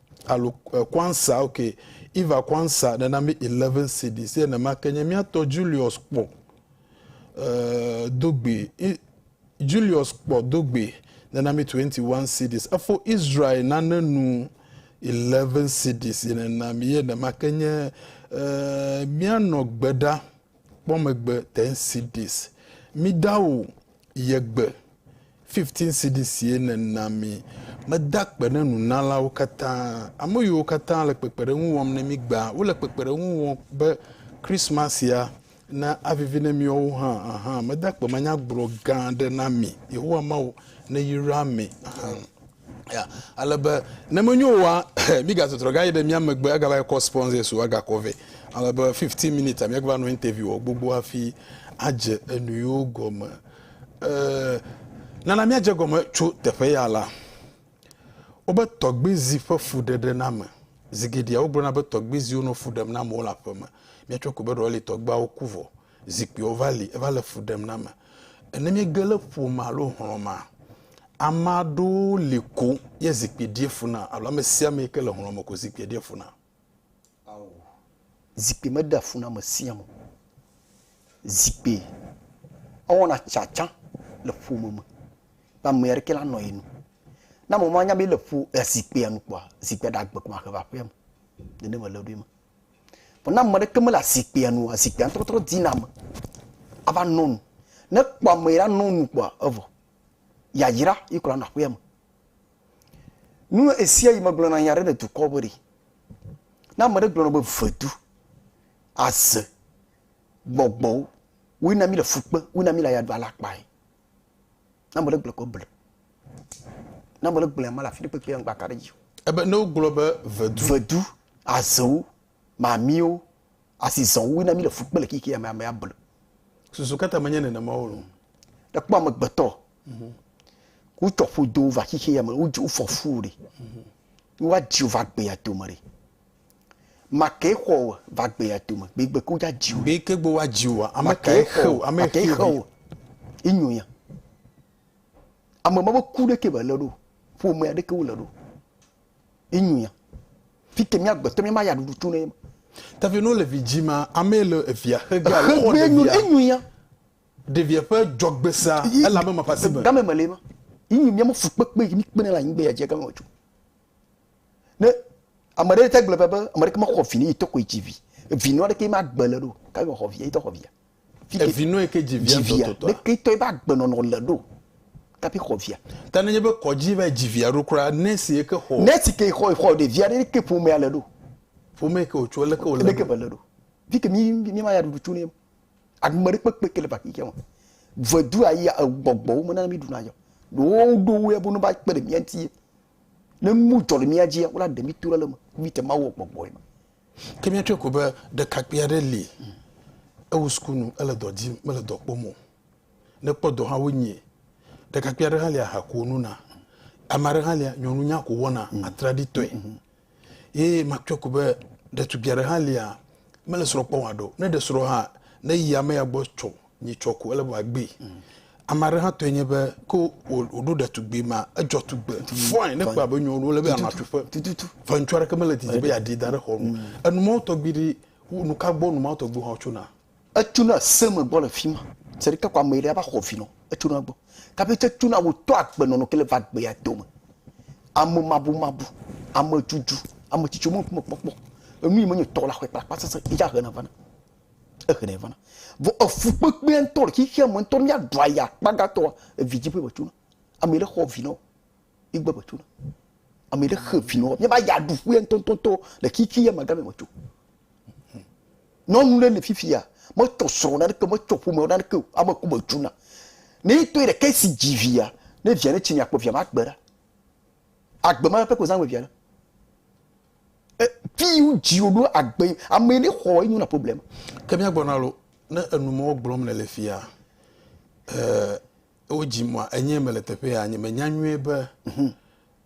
alo eh, Kwanzaa, ok, Eva Kwanzaa nana mi 11 cedis, ye nema ke nye miatɔ Julius kpɔ eh, dogbe, Julius kpɔ dogbe nana mi 21 cedis, efo Israel nane nu 11 cedis, ye nena mi, ye nema ke nye eh, mianɔ gbe ɖa kpɔ megbe 10 cedis. Mi dawo Ye gbe, fifteen cidisie nèna mí. Meda akpe ne nunalawo katã, ame yiwo katã le kpekpeɖeŋu wɔm ne mí gbea. Wole kpekpeɖeŋu wɔm be Kristmasia navivi ne míawo hã ahan. Meda akpemanyagblɔ gã aɖe na mi, Yehowa Mawu neyra mi ahan. Ya, ale be ne menyo oa, mígazu trɔ gayi ɖe mía megbe agava kɔ sponsors o agakɔ vɛ. Ale be 15 minutes a míagava nɔ interview wɔ gbogbo hafi adze enu yiwo gɔme. E, nana míadze gɔme tso teƒe ya la. Wobe tɔgbizi ƒe fuɖeɖename. Zi geɖea wogblɔna be tɔgbiziwo nɔ fu ɖem na amewo le aƒeme. Míatsɔ ko be ɖewohĩ tɔgbeawo ku vɔ. Zikpuiwo va li, eva le fu ɖem na ame. Ne míege le ƒome alo hlɔ̃ mea, ame aɖewo li ko ye zikpui ɖia fu na alo ame sia ame yi ke le hlɔ̃ me ko zikpuia ɖia fu na. Ao, zikpui meɖea fu na ame sia ame o. Zikpui ewɔna tsatsa le ƒome me be ame aɖeke la nɔ ye nu. Ne ame ma nya be ele ƒo zikpuia nu kpɔa, zikpuia ɖe agbe ko ahe va aƒea me. Nenema le eɖo ema. Vɔ ne ame ɖeke mele azikpuia nu o, azikpuia ŋutɔ trɔ dina ame ava nɔ nu. Ne ekpɔ ame yi la nɔ nu kpɔa evɔ. Yayra yi kura nɔ aƒea me. Nu esia yi megblɔ na nya ɖe le dukɔ be ɖi. Ne ame ɖe gblɔ nɔ be vedu, aze, gbɔgbɔwo woe na mi le fukpe, woe na mi le ayaɖu alakpae. Ne ame ɖe gblɔe ko ble. Ne ame ɖe gblɔe mele afi ɖe kpekpe ŋgba ka ɖe dzi o. Ebe ne wogblɔ be vedu. Vedu, azewo, mamiwo, asi zɔwo wina mi le fu kpe le kiki ame amea ble. Susu kata menye nenema o lo. Ekpɔ amegbetɔ. Mhm. Wotɔ ƒodo va xixi ya me, wodzi wofɔ fu ɖe. Mhm. Woadzi wova gbea dome ɖe. Makee xɔ wò va gbe ya tome, be gbe kuja dziwò. Be ke gbe wa dziwòa, ame kae xe wò, ame xe wò. Inyo ya. Ame ma be ku ɖe ke be le ɖo, ƒo me ya ɖe ke wo le ɖo. Inyo ya. Fike mi agbe tɔ mi ma ya ɖuɖu tu ne. Tavi no le vi dzi ma, ame le evia xe gbe alo xɔ ɖe via. Inyo ya. Ɖe via ƒe jɔgbe sa, ele ame ma ƒe asi me. Game me le ma. Inyo mi ame fukpekpe, mi kpe ne la nyigbe ya dzi game me tso. Ne ame ɖe te gblɔ be be ame ɖeke mexɔ vi ne yi tɔkɔe dzi vi. Evi nua ɖeke ma gbe le ɖo. Ka yɔ xɔ via yi tɔ xɔ via. Fi ke evi nua ke dzi via tɔ tɔ tɔ. Ɖeke tɔ ebe agbe nɔnɔ le ɖo. Ka bi xɔ via. Ta ne nye be kɔdzi va dzi via ɖo kura ne si eke xɔ. Ne si ke xɔ xɔ ɖe via ɖe ke ƒomea le ɖo. Ƒome ke wotso le ke wole. Ɖeke be le ɖo. Fi ke mi mi ma ya ɖuɖu tso ne. Agme ɖe kpekpe ke le ba xixia me. Vɔe du ayi egbɔgbɔwo me na mi ɖu na yɔ. Ɖo ɖo wo ya bo no ba kpe ɖe mia ŋuti. Ne nu dzɔ le mía dzia, wona ɖe mí to ɖe le eme, míte Mawu wò gbɔgbɔe me. Ke míatsɔe ko be ɖekakpui aɖe li, ewu sukunu, ele dɔ dim, mele dɔ kpɔm o. Ne ekpɔ dɔ hã, wonyae. Ɖekakpui aɖe hã li, aha ko wònona. Ame aɖe hã li, nyɔnu nya ko wòwɔna, atraɖitɔe. Ye makpɔe ko be ɖetugbui aɖe hã lia, mele srɔ̃ kpɔm haɖe o. Ne ɖe srɔ̃ hã, neyi ame ya gbɔ tsɔ nyi tsɔ ko, ele be wòagbee. Mm. Ame aɖe hã tɔe nye be ke wòɖo ɖetugbui ma, edzɔ tugbe fɔin, ne kpɔ abe nyɔnu wole be anɔ atsuƒe. Vɔ ŋutsu aɖeke mele didi be yeaɖi da ɖe xɔ nu. Mm. Enumawotɔgbi ɖi, nu ka gbɔ numawotɔgbi hã wotsona? Etsona ese me gbɔ le fima. Se ɖe ke ko ame ɖe ava xɔ vi nɔ. Etsona gbɔ. Kabe tse tsona wo to agbe nɔnɔ ke le va agbe ya to me. Ame mabu mabu, ame dzudu, ame tsitsi me ŋkume kpɔkpɔ. Enu yi me nye tɔ la xɔe kpakpa sese yi dza hena vana. Ehena vana. Vɔ efu kpekpea ŋtɔ le xixea me ŋtɔ ne mia ɖua ya kpagatɔa evi dzi ƒe me tsona. Ame ɖe xɔ vi nɔ. Yi gbɔ me tso na. Ame ɖe xe vi nɔ. Mía ba ya ɖu ƒuɛ ŋutɔŋutɔŋutɔ le kiki ya magame me tso. Nyɔnu ɖe le fifi ya. Me tsɔ srɔ na ɖeke, me tsɔ ƒome na ɖeke o. Ame ku me tso na. Ne yi tɔɛ ɖeke si dzi vi ya, ne via ne tsi mia kpɔ via ma gbe ɖa. Agbe ma ƒe ko zã ame via ɖa. E fi yi wo dzi wo ɖo agbe yi ame ne xɔ enyo na problème. Ke mía gbɔ na lo. Ne enu mɔ gblɔm ne le fia, e wo dzi mua enye mele teƒe ya nye menya nyuie be mhm.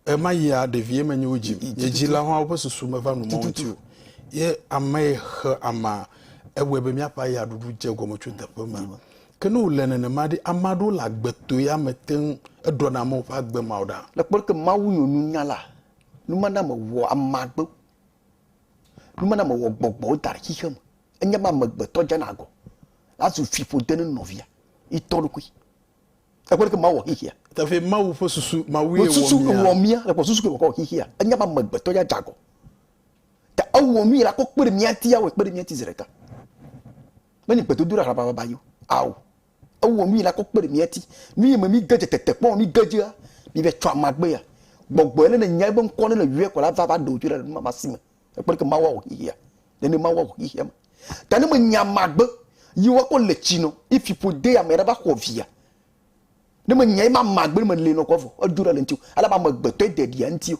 ema yia ɖevie menye wo dzi nye dzila hã woƒe susu meva nu mɔ ŋuti o ye ame xe ama ewɔe be míaƒe aya ɖuɖu dze gɔme tso teƒe ma mhm. ke ne wòle nenema ɖi ame aɖewo le agbetɔ ya me te ŋu eɖɔna amewo ƒe agbe ma o ɖa le kpɔɖe ke mawu nyɔnunyala numaname wɔ amagbe Numename wɔ gbɔgbɔwo da ɖe xixe me. Enye be amegbetɔ dzena agɔ, azu fiƒode ne nɔvia, yi tɔ ɖokui. Ekpɔ ɖe ke Mawu wɔ xixea. Tafie Mawu ƒe susu, Mawue wɔ Susu mia. wɔ mia, le kpɔ susu ke wòkɔ wɔ xixea. Enye be amegbetɔ ya dze agɔ. Ta ewɔ nu yi la kɔ kpe ɖe mia ŋuti, awɔe kpe ɖe mia ŋuti zi ɖeka. Menye gbedodoɖa hlabababa yi o, ao. Ewɔ nu yi la kɔ kpe ɖe mía ti. Nu yi me míge dze tetekpɔ mí ge dzea, mívae tsɔa magbea. Gbɔgbɔe ale nenyae ebe ŋkɔ ale le yɔe ko la va va ɖe wò dzoe ɖa le nu ma ma si me. Ekpe ɖeke Mawu awɔ xexea. Nene Mawu awɔ xexea me. Ta ne menya magbe yi wa kɔ le tsi nɔ yi fiƒo de ame ɖa va xɔ via. Ne menya yi ma magbe ne me le nɔ kɔ vɔ edzo ɖa le ŋti o. Ale amegbetɔ yi de ɖia ŋti o.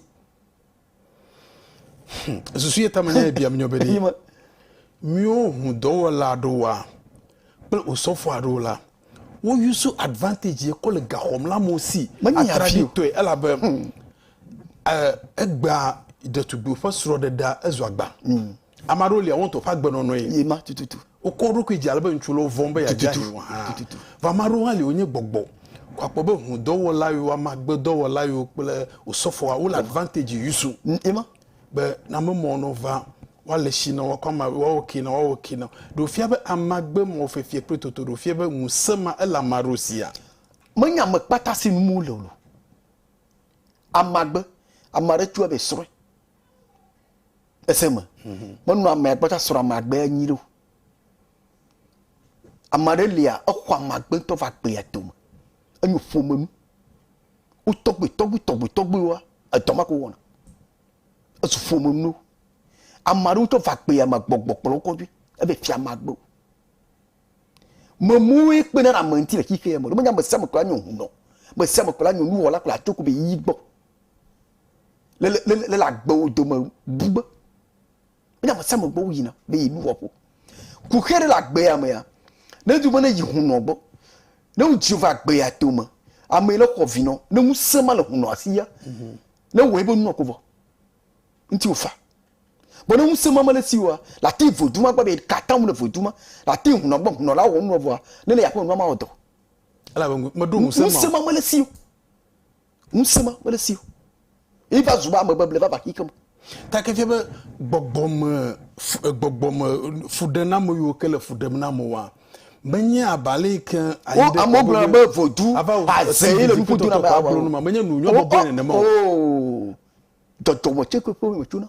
Hm, susu ye tame ne biam nyɔ be ɖi. Míwo ŋu dɔwɔla aɖewoa kple osɔfo aɖewo la, wo use advantage ye kɔ le gaxɔm la mo si. Menye afi tɔe elabe hmm. eh, egbea ɖetugbi ƒe srɔ̃ɖeɖea ezu agba. Hmm. Ame aɖewo lia wo ŋutɔ ƒe agbenɔnɔe. Ye ma tututu. Wokɔ wo ɖokui dzi ale be ŋutsu lɔ vɔ̃ be yeadze ahi o hã. Tututu. Vɔ ame aɖewo hã li wonye gbɔgbɔ. Ko akpɔ be ŋudɔwɔla yewo, amagbedɔwɔla yewo kple osɔfoa wole advantage yusu. Ye ma. Be na ame mɔ nɔ va woale shi nɔ woakɔ ama woawɔ ke nɔ woawɔ ke nɔ. Ɖe wofia be amagbe mɔ fefia kple toto ɖe wofia be ŋusẽ ma ele ame aɖewo sia? Menye ame kpata si num wole o lo. Amagbe, ame aɖe tsɔe be srɔ̃e. ese me menu ame agbata srɔ̃ ame agbe anyi ɖo ame aɖe lia exɔ ame agbe ŋutɔ va gbea dome enyo ƒome nu wo tɔgbe tɔgbe tɔgbe tɔgbe wa edɔ ma ko wɔna esu ƒome nu ame aɖewo tɔ va gbea me gbɔgbɔ kplɔ wo kɔdzi ebe fia ame agbe o memoe kpena ɖe ame ŋuti le xixea me ɖo menye ame sia ame kura nye hunɔ ame sia ame kura nye nuwɔla kura tso ko be yi gbɔ. le le le le le agbewo dome bu be ne ame sia ame gbɔ woyina be yenuwɔƒo. Kuxi aɖe le agbea mea, ne edu be ne yi hunɔ gbɔ, ne wodzio va agbea tome, ame yi ne xɔ vi nɔ, ne ŋusẽ ma le hunɔa si ya, mhm. ne wɔ ebe nua ko vɔ, ŋuti wofa. Bɔn ne ŋusẽ ma mele si oa, le ati vodu ma gbɔ be katã mu le vodu ma, le ati hunɔ gbɔ, hunɔ la wɔ nua vɔa, ne le aƒe nua ma wɔ dɔ. Elabe meɖo ŋusẽ ma. Ŋusẽ ma mele si o. Ŋusẽ ma mele esi o. Ye va zu be ame beble va va xixem. Ta ke fia be gbɔgbɔme gbɔgbɔme fuɖename yiwo ke le fu ɖem na amewoa menye abe ale yi ke ayi ɖe amewo gblɔna be vodu aze ye le nuƒo dona be awa o. Menye nu nyɔ bɔbɔe nenema o. Dɔdɔme tse kpekpe me tsona.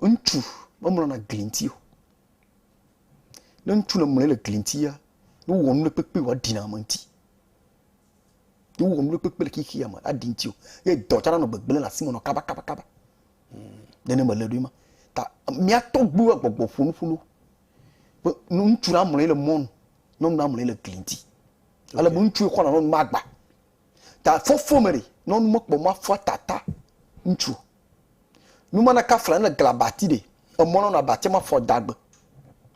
Ŋutsu memlɔna gli ŋuti o. Ne ŋutsu le mlɔe le gli ŋutia, ne wowɔ nu ɖe kpekpe wɔ aɖi na ame ŋuti. Ne wowɔ nu ɖe kpekpe le xexea me aɖi ŋuti o. Ye dɔ tsɛ anɔ gbegblẽ le asi me nɔ kabakabakaba. Nene mele ɖoe ma. Ta mía tɔgbuiwo agbɔgbɔ ƒo nuƒo na wo be ne ŋutsu la mlɔe le mɔnu, nyɔnu la mlɔe le gli ŋuti. Ale be ŋutsu ye xɔna nyɔnu be agba. Ta fofo me ɖi nɔ nu mekpɔ ma fua tata ŋtsu. Nu ma na kafla ne gla bati ɖi emɔ nɔ na bati ma fɔ dagbe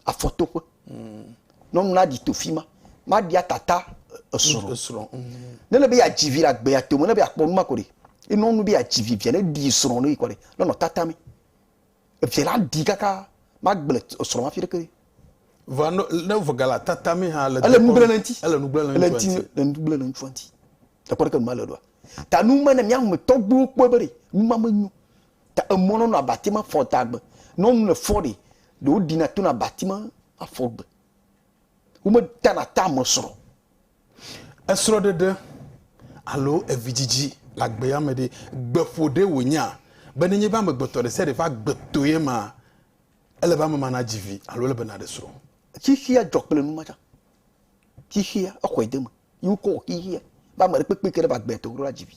afɔ toƒe. Mm. Nɔ nu na di to fi ma ma dia tata esro. Mm, esro. Mm. Ne le be ya dzi vi la gbe ya to me ne be akpɔ nu ma ko ɖi. Enɔ nu be ya dzi vi via ne di esro ne yi kɔ ɖi nɔ nɔ tata mi. Eviɛ la ɖi kaka be agble srɔ̃ hafi ɖe ke. Vɔa no, ne vɔga la tata mi hã le Ele nu gblẽ le ŋti. Ele nu gblẽ le ŋtsua ŋti. Ele nu gblẽ le ŋtsua ŋti. Ekpɔ ɖe ke nu ma le ɖoa? Ta nu ma ne mia me tɔgbuiwo kpɔe be ɖe nu ma me nyo. Ta emɔ nɔnɔ abati ma fɔ da gbe. Ne wonu le fɔ ɖe, ɖe wo ɖina tona abati ma afɔ gbe. Womedana tamesrɔ̃, esrɔ̃ɖeɖe alo evidzidzi le agbea me ɖe, gbeƒo ɖee wònyea be nenye be amegbetɔ ɖe sia ɖe ƒe agbe to ye emea, ele be ame ma nadzi vi alo ele be naɖe srɔ̃. Xexea dzɔ kple nu ma tsã. Xexea, exɔe de eme ye wokɔ wɔ xexea be ame ɖekpekpe yi ke ne va agbea to ɖo la dzi vi.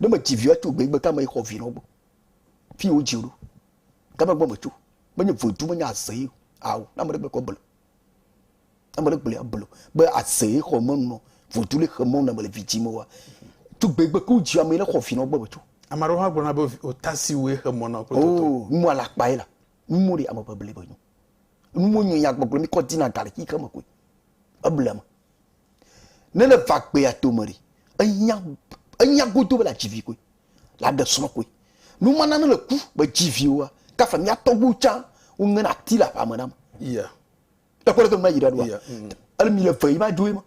Ne medzi vi o, etso gbegbe ke ame yi xɔ vi nɔ egbɔ. Fi yi wodzi wò ɖo. Game gbɔ me tso. Menye vodu menye azee o. Ao, na ame ɖe gblɔe kɔ belo. Na ame ɖe gblɔe abelo. Be azee xɔ me nɔ vodu le xe mɔ na me le vidzi me wa. Tugbe gbe ku dzi ame le xɔ vi nɔ gbɔ me tso. Ame aɖewo hã gblɔna be ota si woe xe mɔ na kple toto. Oo, nu mɔ alakpa ye la. Nu mɔ ɖe ame ƒe ble be nyo. Nu mɔ nyo ya gbɔgblɔ mi kɔ dina ga le xi xe me koe. Eble ame. Ne le va gbea to me ɖe, ehiã, ehiã godo be la dzi vi koe. la ɖe srɔ̃kue. Nu ma na ne le ku be dzi viwoa, kafa mía tɔgbuiwo tsã woŋena ati le aƒea me nam. Yeah. Ekpɔ ɖe mea yi ɖe ɖoa. Yeah. Mm. Ele mi le ve yi ma dzoe ma.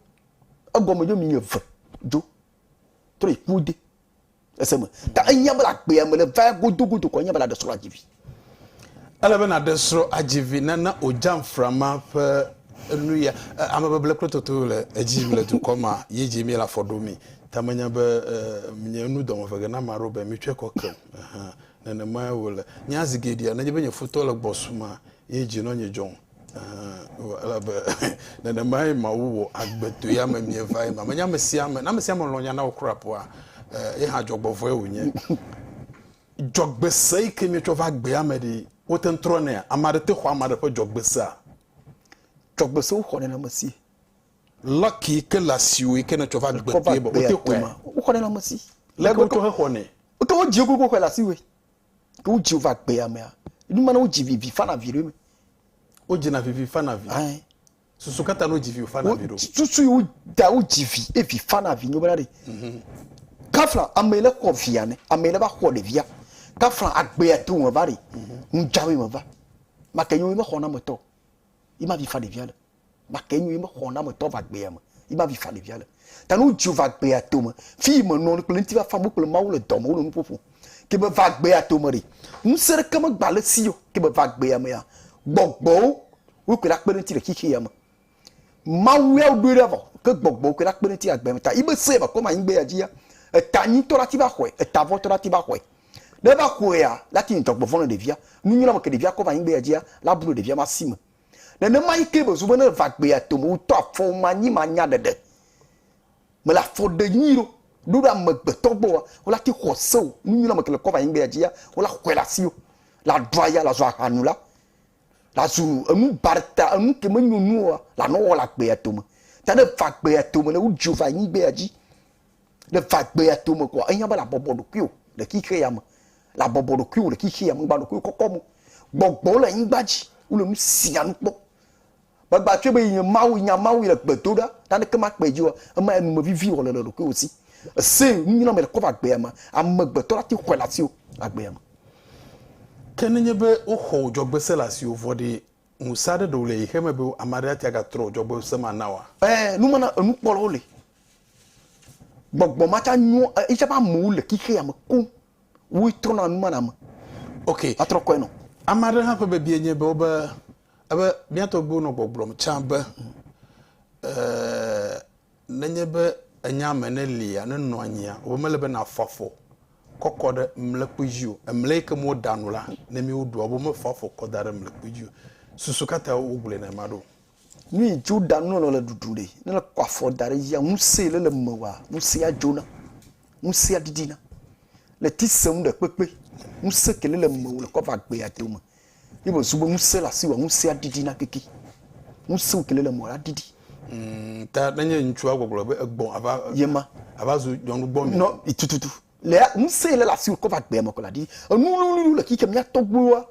Egɔme dzo mi le ve dzo. Trɔ yi ku de. Ese me. Ta enya bela gbea me le va godo godo kɔ enya bela ɖe srɔ̃ la dzi vi. Ele be nàɖe srɔ̃ adzi vi nana wòdzam frama ƒe nuya. Amebeble kple toto le edzi le dukɔ ma ye dzi míele afɔ ɖo mi. Ta menya be nye nu dɔ me vege na ame aɖewo be mitsɔe kɔ kem. Ɛhɛ, nenemae wòle. Nya zi geɖea, nenye be nye futɔ le gbɔ suma ye dzi nɔ nye dzɔm. Ɛhɛ, elabe nenemae Mawu wɔ agbetɔe ame míeva ye ma. Menye amesiame, ne amesiame lɔ̃ nya na wò kura ƒoa, ye hã adzɔgbɔvɔe wònye. Dzɔgbese yi ke míetsɔ va gbea me ɖee wote ŋu trɔnɛa? Ame aɖe te xɔ ame aɖe ƒe dzɔgbesea? Dzɔgbesewo xɔ nɔnɔmesi. Lɔki yi ke le asiwò yi ke nètsɔ va gbe kpee be wote xɔe ma. Woxɔ nɔnɔmesi. Leke wotsɔ hexɔnɛ? Wote ŋu dzi gogo xɔe le asiwòe. Ne wodzi va gbea mea, nu ma na wodzi vivi fana vi ɖe eme. Wodzina vivi fana vi. Ɛɛ. Susu ka ta no dzi vi wofana vi ɖo? Susu yi wota wodzi vi ye vi fana vi nyo bena ɖe. Mhm. Kafla ame le xɔ via ne ame le va xɔ ɖevia. Kafla agbea to me va ɖe. Mhm. Nujawe me va. Make nyo yi me xɔ na metɔ. Yi ma vi fa ɖevia le. Make nyo yi me xɔ na metɔ va agbea me. Yi ma vi fa ɖevia le. Ta nu dzi va gbea tome. Fi me nɔ kple ŋuti va famu kple Mawu le dɔ me wole nu ƒoƒo. Ke be va gbea tome ɖe. Ŋusẽ ɖeke me gba le si o. Ke be va gbea mea, gbɔgbɔwo wo kpe ɖa kpe ɖe ŋuti le xixi ya me. Mawu ya wo ɖoe ɖa vɔ. Ke gbɔgbɔwo kpe ɖa kpe ɖe ŋuti agbe me ta. Yi be se va kɔ ma anyi gbe ya dzi ya. Eta nyi tɔ la ti va xɔe. Eta vɔ tɔ la ti va xɔe. Ne va xɔe ya, la ti ŋdɔ gbɔvɔn le ɖevia. Nu nyuie la me ke ɖevia kɔ va anyi gbe ya dzi ya, la bu ɖevia ma si me. Nenemae kee bezu bene va gbea tome wutɔ afɔ manyi manya ɖeɖe. Mele afɔ ɖe nyui ɖo, ɖoɖo amegbetɔ gbɔ wa, wola ti xɔ se o, nu nyui la mekele kɔ va nyigbea dzi ya, wola xɔe la si o, la ɖu aya, la zu aha nu la, la zu enu barta, enu ke menyo nu o wa, la nɔ wɔ la gbea tome. Ta ne va gbea tome ne wudzi va nyigbea dzi. Ne va gbea to me koa, ehiã be labɔbɔ ɖokuiwò le xixe ya me. Labɔbɔ ɖokuiwò le xixe ya me, megba ɖokuiwò kɔkɔ mo. Gbɔgbɔwo le anyigba dzi, wole nu sia nu kpɔm. Megba tsɔe be nye Mawu, nya Mawu le gbe do ɖa, naneke makpe dzi o. Ema enu me vivi wòle le ɖokuiwò si. Ese nu nyui na ame le kɔva gbea me, amegbetɔ la te xɔe le asiwò le agbea me. Ke nenye be woxɔ wò dzɔgbese le asiwò vɔ ɖee, Ŋusẽ aɖe ɖewo le xexea me be ame aɖe ate ŋu agatrɔ dzɔgbevɔ̃se ma na oa? Ɛ̃, numana enukpɔlawo li. Gbɔgbɔ ma tsã nyoa eya ƒe amewo le xexea me koŋ. Woe trɔna numana me. Ok. Atrɔ kɔe nɔ. Ame aɖe hã ƒe biabia nye be wobe ebe mía tɔgbuiwo nɔ gbɔgblɔm tsã be, ɛ̃, Nenye be ènya ame ne lia, ne nɔ anyia, alo mele be nàfɔ afɔ kɔ kɔ ɖe mlekpui dzi o, emlɛ yi ke me woɖa nu la, ne míewoɖoa, alo mefɔ afɔ kɔ da ɖe mlekpui dzi o. Susu ka tae wogblɔe nenema ɖo? Nu yi dzi woɖa nu nɔnɔ le ɖuɖu ɖe. Ne èkɔ afɔ da ɖe edzia, ŋusẽ yi le le emewɔa, ŋusẽa dzona. Ŋusẽa ɖiɖina. Le ti sẽm ɖekpekpe. Ŋusẽ ke le le emewò le kɔ va gbea dome. Ye me zu be ŋusẽ le asi wòa ŋusẽa ɖiɖi na keke. Ŋusẽ wokele le mɔ la ɖiɖi. Umm ta ne nye ŋutsua gbɔgblɔ be egbɔ ava yema ava zu nyɔnu gbɔ nɔ tututu le ŋusẽ le le asi wò kɔ va gbea me kɔ la ɖi enu wluwluiwo le xixea mía tɔgbuiwoa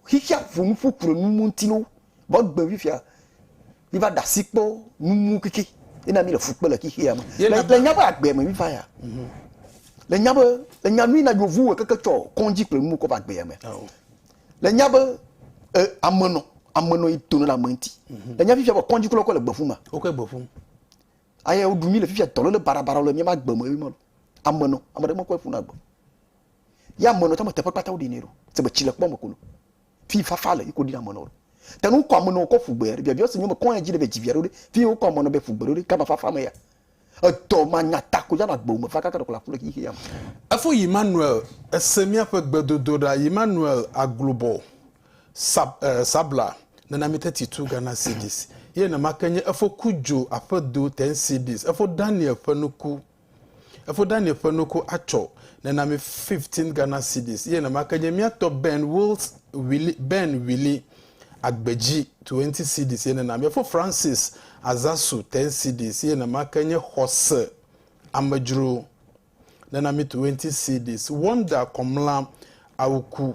xixea ƒo nuƒo ku ɖe nu ŋuti no Gbɔgbe vi fia mi va ɖe asi kpɔ numu keke ena mi le fu kpe le xexea me. Le nya be agbe me mi va ya. Mhm. Le nya be le nya nui na yovu we keke tsɔ kɔndzi kple numu kɔ va agbe me. Le nya be e amenɔ amenɔ yi to ne ame ŋuti. Mhm. Le nya fifia be kɔndzi kula kɔ le gbeƒu ma. Wo ke gbeƒu. Aye wo ɖu mi le fifia dɔ le bara bara le mi ma gbe me mi ma lo. Amenɔ ame ɖe me kɔ ƒu na gbe. Ya amenɔ tame teƒe kpata wo ɖi ne lo. Se be tsi le kpɔ me kolo. Fi fafa le yiko dina mɔnɔ. Tenu wokɔ amɔnɔ kɔ fugbe aɖe biabiɔ si nyɔ mekɔ ya dzi ɖe be dzivi aɖewo ɖe. Fi wokɔ amɔnɔ be fugbe ɖewo ɖe gama fafa me ya. Edɔ manya ta ko ya na gbewo me va kaka ɖe ko le aƒu le xixia me. Efo Yimmanuel ese míaƒe gbedodoɖa Yimmanuel Aglobɔ Sab, e, Sabla nena mi teti tu Ghana Cedis ye nɛma ke nye efo Kudjo Aƒedo ten Cedis efo Daniel ƒe nuku. Efo Daniel ƒe nuku atsɔ ne na mi 15 Ghana cedis ye nenamake nye mía tɔ Ben Wills Willy, Ben Willy, Agbeji 20 cedis ye nena mi. Efo Francis Azasu 10 cedis ye nenamake nye Xɔse Amedzro nena mi 20 cedis. Wonder Kɔmla Awuku.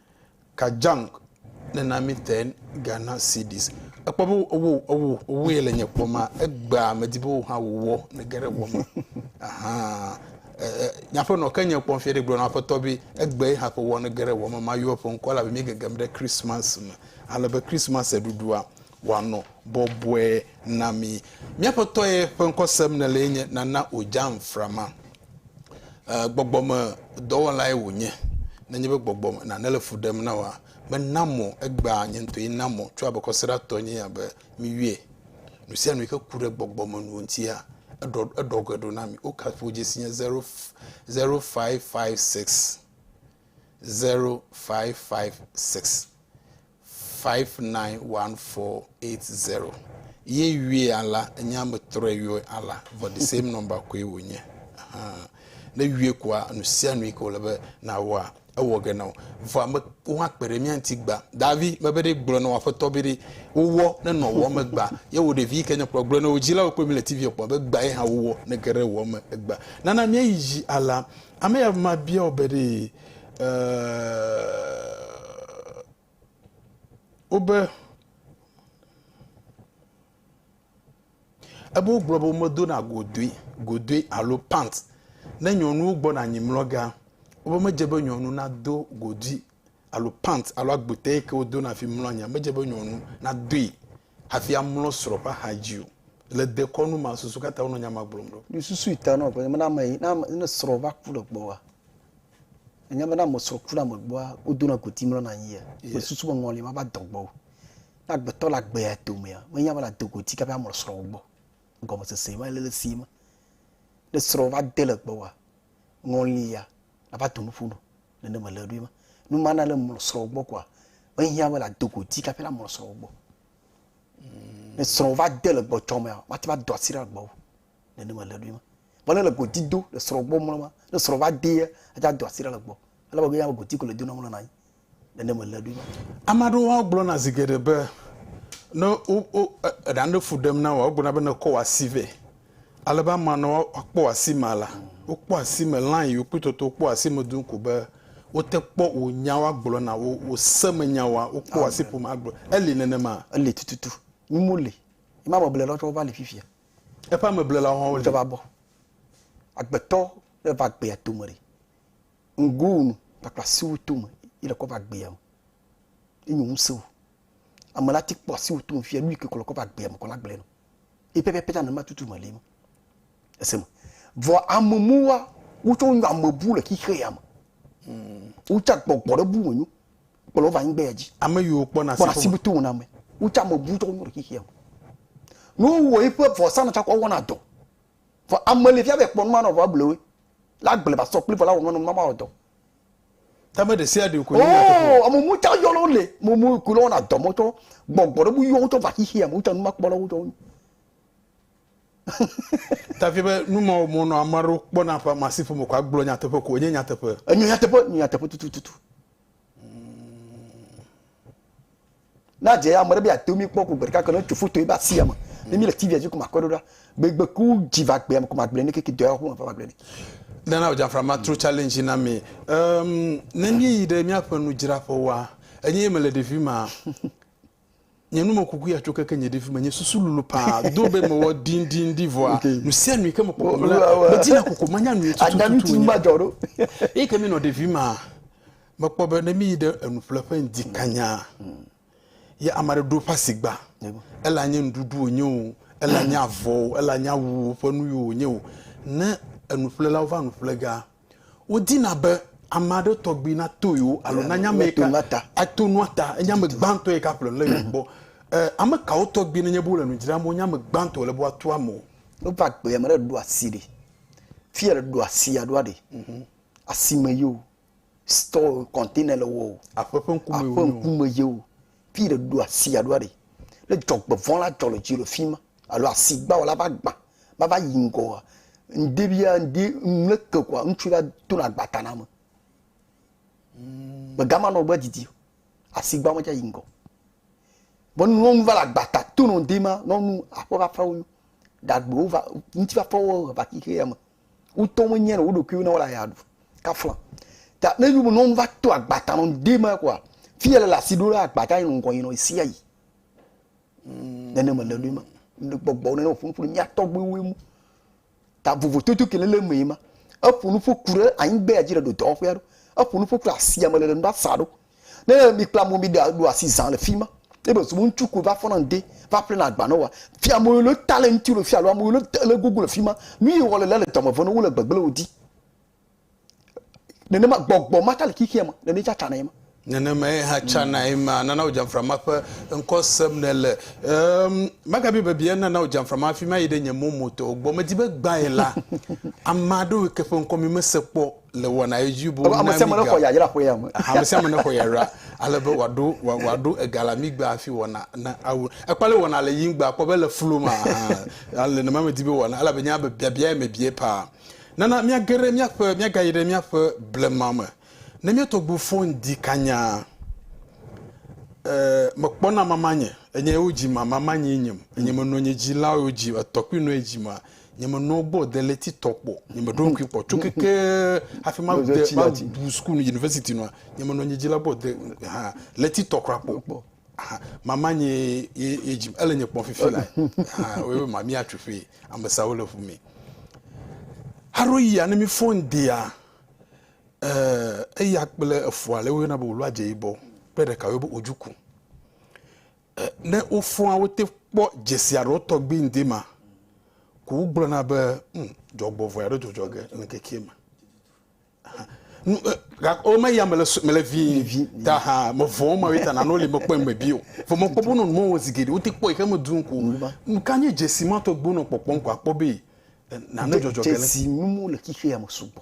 Kajang ne na mi ten Ghana cedis. Ekpɔ be owó owó owó yɛ le nye kpɔ ma egbea me di be wò hã wò wɔ ne ge ɖe wɔ me. Ahan nyaƒe nɔ ke nye kpɔ fia ɖe gblɔ na aƒetɔ be egbe ye hã ƒe wɔ ne ge ɖe wɔ me ma yɔ ƒe ŋkɔ la be mi gegem ɖe Christmas me. Ale be Christmas ɖuɖua wanɔ bɔbɔe na mi. Miaƒetɔ ye ƒe ŋkɔ sem ne le ye nye Nana Ojanframa. eh, gbɔgbɔmedɔwɔlae wònye. Nenye be gbɔgbɔ nane le fu ɖem na woa, mena mɔ egbea nye ŋutɔe na mɔ tso abekɔseɖatɔ nye ya be miwie. Nu sia nu yi ke ku ɖe gbɔgbɔmenuwo ŋutia, eɖɔ eɖɔ ge ɖo na mi. Wo kaƒo dzesi nye 0556 0556. 591480 ye yɔe ala enye ame trɔe yɔe ala vɔ the same number koe wònye ne yɔe koa nu sia nu yi ke wòle be nawɔa ewɔ ge na wo vɔ ame wo hã kpe ɖe mía ŋuti gba davi mebe ɖe gblɔ na wo aƒetɔ be ɖe wowɔ ne nɔ wɔ me gba ye wo ɖevi yi ke nye kplɔ gblɔ na wo dzilawo kple mi le tv kpɔ be gba ye hã wowɔ ne ge ɖe wɔ me gba nana míayi dzi ala ame ya ma bia wo be ɖe wobe, ebe wogblɔ be womedona godoe, godoe alo pant ne nyɔnuwo gbɔna anyi mlɔgea, wobe medze be nyɔnu nado godui alo pant alo agbote yi ke wodona hafi mlɔ anyia, medze be nyɔnu nadoe. Hafi amlɔ srɔ̃ ƒe axa dzi o. Le dekɔnu ma, susu ka ta wonɔ nya ma gblɔm ɖo? Ɖo susui ta nɔ ƒenye be ne ame yi, ne ame, ne srɔ̃ va ku ɖe gbɔwòa, ènya be ne ame srɔ̃ ku ɖe ame gbɔa, wodona go tim lɔna anyi yea? Yes. Mesusu be ŋɔli ma va dɔ gbɔwò. Ne agbetɔ le agbe ya domea, menya be nàdo go tika be amlɔ srɔ̃wò gbɔ. Gɔmesese ma le le esi me. Ne srɔ̃ va de le gbɔwòa, ŋɔli ya nava do nuƒo nu nene mele ɖoe ma nu ma na le mlɔ srɔ̃ gbɔ koa ehiã be la do go ti kaƒe la mlɔ srɔ̃ gbɔ mm. ne srɔ̃ va de le gbɔtsɔ mea wate va do asi ɖe agbɔ nene mele ɖoe ma vɔ ne le godi do le srɔ̃ gbɔ mlɔ ma ne srɔ̃ va de ya ate do asi ɖe le gbɔ ele be ya godi ko le do na mlɔ na anyi Ame aɖewo hã gblɔna zi geɖe be ne wo wo eɖe aɖe fu ɖem na wòa wogblɔna be nekɔ wò asi vɛ. Ale be amea ne woakpɔ wò asi mea la wokpɔ asi me line yiwo kpɔtɔ tɔ wokpɔ asi me duu ko be wote kpɔ wò nya woagblɔ na wò wò semenya wòa wokpɔ wò asi ƒome agblɔ. Eli nenema? Eli tututu. Nyim woli. Ye ma ameblelawo tsɛ wova li fifia. Eƒe ameblelawo hã woli. Wotsɛ va bɔ. Agbetɔ ne va gbea tome ɖe. Ŋgoo nu kpakple asiwò tome yi le kɔ va gbea me. Enyo ŋusewò. Ame la ti kpɔ asiwò tome fia nu yi ke kɔ le kɔ va gbea me kɔ la gblɔe nɔ. Eye pɛpɛpɛ la nenema tutu me le eme. Ese me. Vɔ ame muwa wotsɔ nyo ame bu le xixe ya me. Hmm. Wotsa gbɔgbɔ ɖe bu me nyo kpɔ le wova anyigba ya dzi. Ame yi wokpɔ na asiwò. Kpɔ asiwò tome na ame. Wotsa ame bu tsɔ nyo le xixe ya me. Ne wowɔ yi ƒe vɔ sanɔ tsakɔ wɔna dɔ. Vɔ ame li fia be ekpɔ numa nɔ vɔ eble woe. La agble va sɔ kpli vɔ la wɔ numa nɔ numa ma wɔ dɔ. Ta me ɖesia ɖe ko nye nyateƒe. Oo ame mu tsa yɔ lɔ le mo mu ko lɔ na dɔ mo tsɔ gbɔgbɔ ɖe bu yɔ wo tsɔ va xixi ame tsa numa kpɔ lɔ wo tsɔ. Ta fia be numa wɔ mo nɔ ame ɖe kpɔ na ƒe masiƒe me ko agblɔ nyateƒe ko nye nyateƒe. Enye nyateƒe, nye nyateƒe tutututu. na dze ame ɖe be ate mi kpɔ ko gbe ɖeka ke ne tso foto ye ba si ame ne mi le tv dzi ko ma kɔ ɖo ɖa be gbe ku dzi va gbe ame ko ma gble ne keke dɔ ho ma va gble ne nana o jamfra ma tro challenge na mi um, ne mi yi ɖe miaƒe nudzraƒe wa enye me le ɖevi ma Nye nu me kuku ya tso keke nye ɖevi me nye susu lulu paa do be mewɔ ɖin ɖin ɖi vɔa nu sia nu ke me kpɔ kpɔ la me dina koko ma nya nu ye tutu tutu tutu ma jɔ ɖo eye ke mi nɔ ɖevi ma me kpɔ be ne mi yi ɖe enu ƒle ƒe ŋdi kanya ye ame aɖe ɖo ƒe asigba ela nye nuɖuɖu wonye o ela nye avɔ o ela nye awu ƒe nu yi wonye o ne enu ƒle la wova nu ƒle ga Wodina be ame aɖe tɔgbi nato yewo alo nanya ame yi ka ato nua ta, enye ame gbãtɔ yi ka ƒle lé yewo gbɔ. Ame kawo tɔgbi nenye be wole nu dzram wonye ame gbãtɔ wòle be woato ame wo? Ne va gbea, ame ɖe ɖo asi ɖi, fi yɛ ɖo asia ɖoa ɖi, asime ye o, store, container le wɔ o, aƒe ƒe ŋkume ye o, Fi ɖe ɖo asi aɖo aɖe. Ne dzɔgbevɔ̃ la dzɔ le dzi le fi ma alo asigbawɔ la va gbã va va yi ŋgɔa, ŋde bia ŋde ŋle ke kɔa, ŋutsu la tona agbata na ame. Mm. Mega ma nɔ gbe didi o. Asigba me dza yi ŋgɔ. Bo nɔ nu va la agbata tono ŋde ma nɔ nu aƒe va fa wo. Dagbewo va ŋuti va fa wo va kike ya me. Wotɔ me nyɛn woɖokuiwo na wole aya ɖu kafla ta ne yum non va to agbata non de ma kwa fi yele la si ɖo la agbata yin ŋgɔ yin no isia yi mm. nene me le ma ne gbɔgbɔ nene ƒun ƒun mia tɔgbe wo mu ta vovo tutu ke lele me ma eƒun ƒun ku ɖe anyigbe ya dzi ɖe do dɔwɔƒe aɖo eƒun ƒun ku asia me le le nu ɖa sa ɖo Ne mi kple amewo mi ɖo asi zã le fi ma, ebe sɔ ŋutsu ko va fɔ na ŋde va ƒle na agba na wa. Fi amewo le ta le ŋuti le fi alo amewo le ta le gogo le fi ma. Nu yi wɔ le le dɔme vɔ ne wo le gbegble wo di. Nenema gbɔgbɔ ma ta le xixia ma, nene tsa tsa na ema. Nenema ye hã tsa na ema. Nana wo jamfra ma ƒe ŋkɔ sem ne le. Ehm, magabi bebia nana wo jamfra ma fi ma yi ɖe nye momo to gbɔ. Medi be gbã ye la, ama ɖewo ke ƒe ŋkɔ mi mese kpɔ. le wɔna edzi bo na mi ga. Ame sia ame nexɔ yayra ƒe ya me. Ame sia ame nexɔ yayra ale be wòaɖo wòaɖo ega le amigba hafi wɔna na awu. Ekpɔ ale wɔna le yingba kpɔ be le flu ma hã le nɔnɔme di be wɔna elabe nya be biabia ya me bie paa. Nana míage ɖe míaƒe míagayi ɖe míaƒe blema me. Ne mía tɔgbu fon di kanyaa e mekpɔna mamanye enye wo dzi ma mamanye nyem enye menɔ nye dzilawo dzi etɔ kpui nɔ edzi ma. Nyemenɔ gbɔ o deleti tɔ kpɔ. Nyemeɖo ŋkui kpɔ tso keke hafi ma de ma bu school university nua. Nyemenɔ nye dzila gbɔ de ha leti tɔ kura kpɔ. Ha mama nye ye ye dzi ele nye kpɔ fifi la. Ha we ma mi atsu fe amesa wo le fu mi. Haro yi ane mi fon dia. Eh eya kple efua le wo yona bo lo adje ibɔ. Kpe ɖeka wo bo ojuku. Ne wofɔa wo te kpɔ dzesi aɖewo tɔgbi ŋdi ma ko wogblɔna be hm, dzɔgbɔvɔe aɖe dzɔdzɔ ge le ŋkekee me. Gakɔ me ya mele mele vi ta ha me vɔn ma weta na no le me kpɔ me bio. Fo mo kpɔ bono mo wo zigede wo te kpɔ ihe me dun ko. Ka nye jesi ma to gbono kpɔkpɔ ko akpɔ be na no jɔjɔ gele. Jesi mi mo le kixe ya me sugbɔ.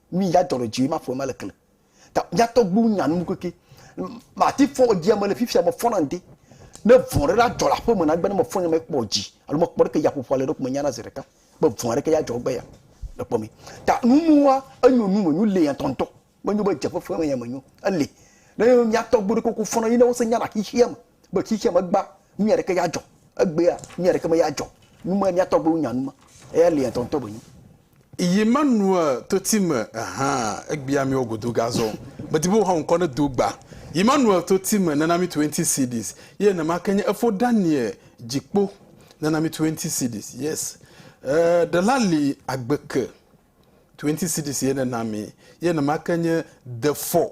Mi ya dɔrɔ dzi ma fɔ ma le kle. Ta ya tɔ gbu nya nu keke. Ma ti fɔ dzi ma le fifia ma fɔ na nde. Ne vɔ re la jɔ la fɔ me na gbe ne ma fɔ nya ma kpɔ dzi. Alo ma kpɔ ke ya fɔ fɔ le dok me nya na zere ka. Be vɔ re ke ya jɔ gbe ya. Le kpɔ me. Ta nu nu wa enyo nu me nyu le ya tɔntɔ. Me nyu be jɛ fɔ fɔ me ya me nyu. Ele. Ne ya tɔ gbu re koko fɔ na yi ne wo se nya na xixi ya me. Be xixea me gbã, nu nyui aɖeke ya dzɔ. Egbea, nu nyui aɖeke me ya dzɔ. Nu me mía tɔgbuiwo nya nu me. Eya lia ŋutɔŋutɔ be nu. Yi ma nua toti me hã, egbea mí wɔ godo ga zɔ. Medi be woha ŋkɔ ne do gba. Yi ma nua toti me nana mí twenty cedis. Ye nema ke nye efo Daniel dzikpo nana mí twenty cedis. Yes. E, ɖela li agbeke. Twenty cedis ye nena mí. Ye nema ke nye defɔ.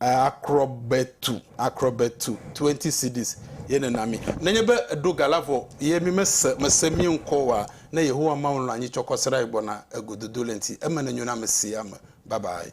Akrɔbetu, akrɔbetu, 20 cedis ye nena mí. Nenye be èɖo ga la vɔ ye mí mese, mèse mí ŋkɔ oa, ne Yehowa Mawu lɔ̃ anyi tsɔ kɔ se ɖa yi gbɔna e gododo le ŋti, eme nenyo na ame sia ame. Bye bye.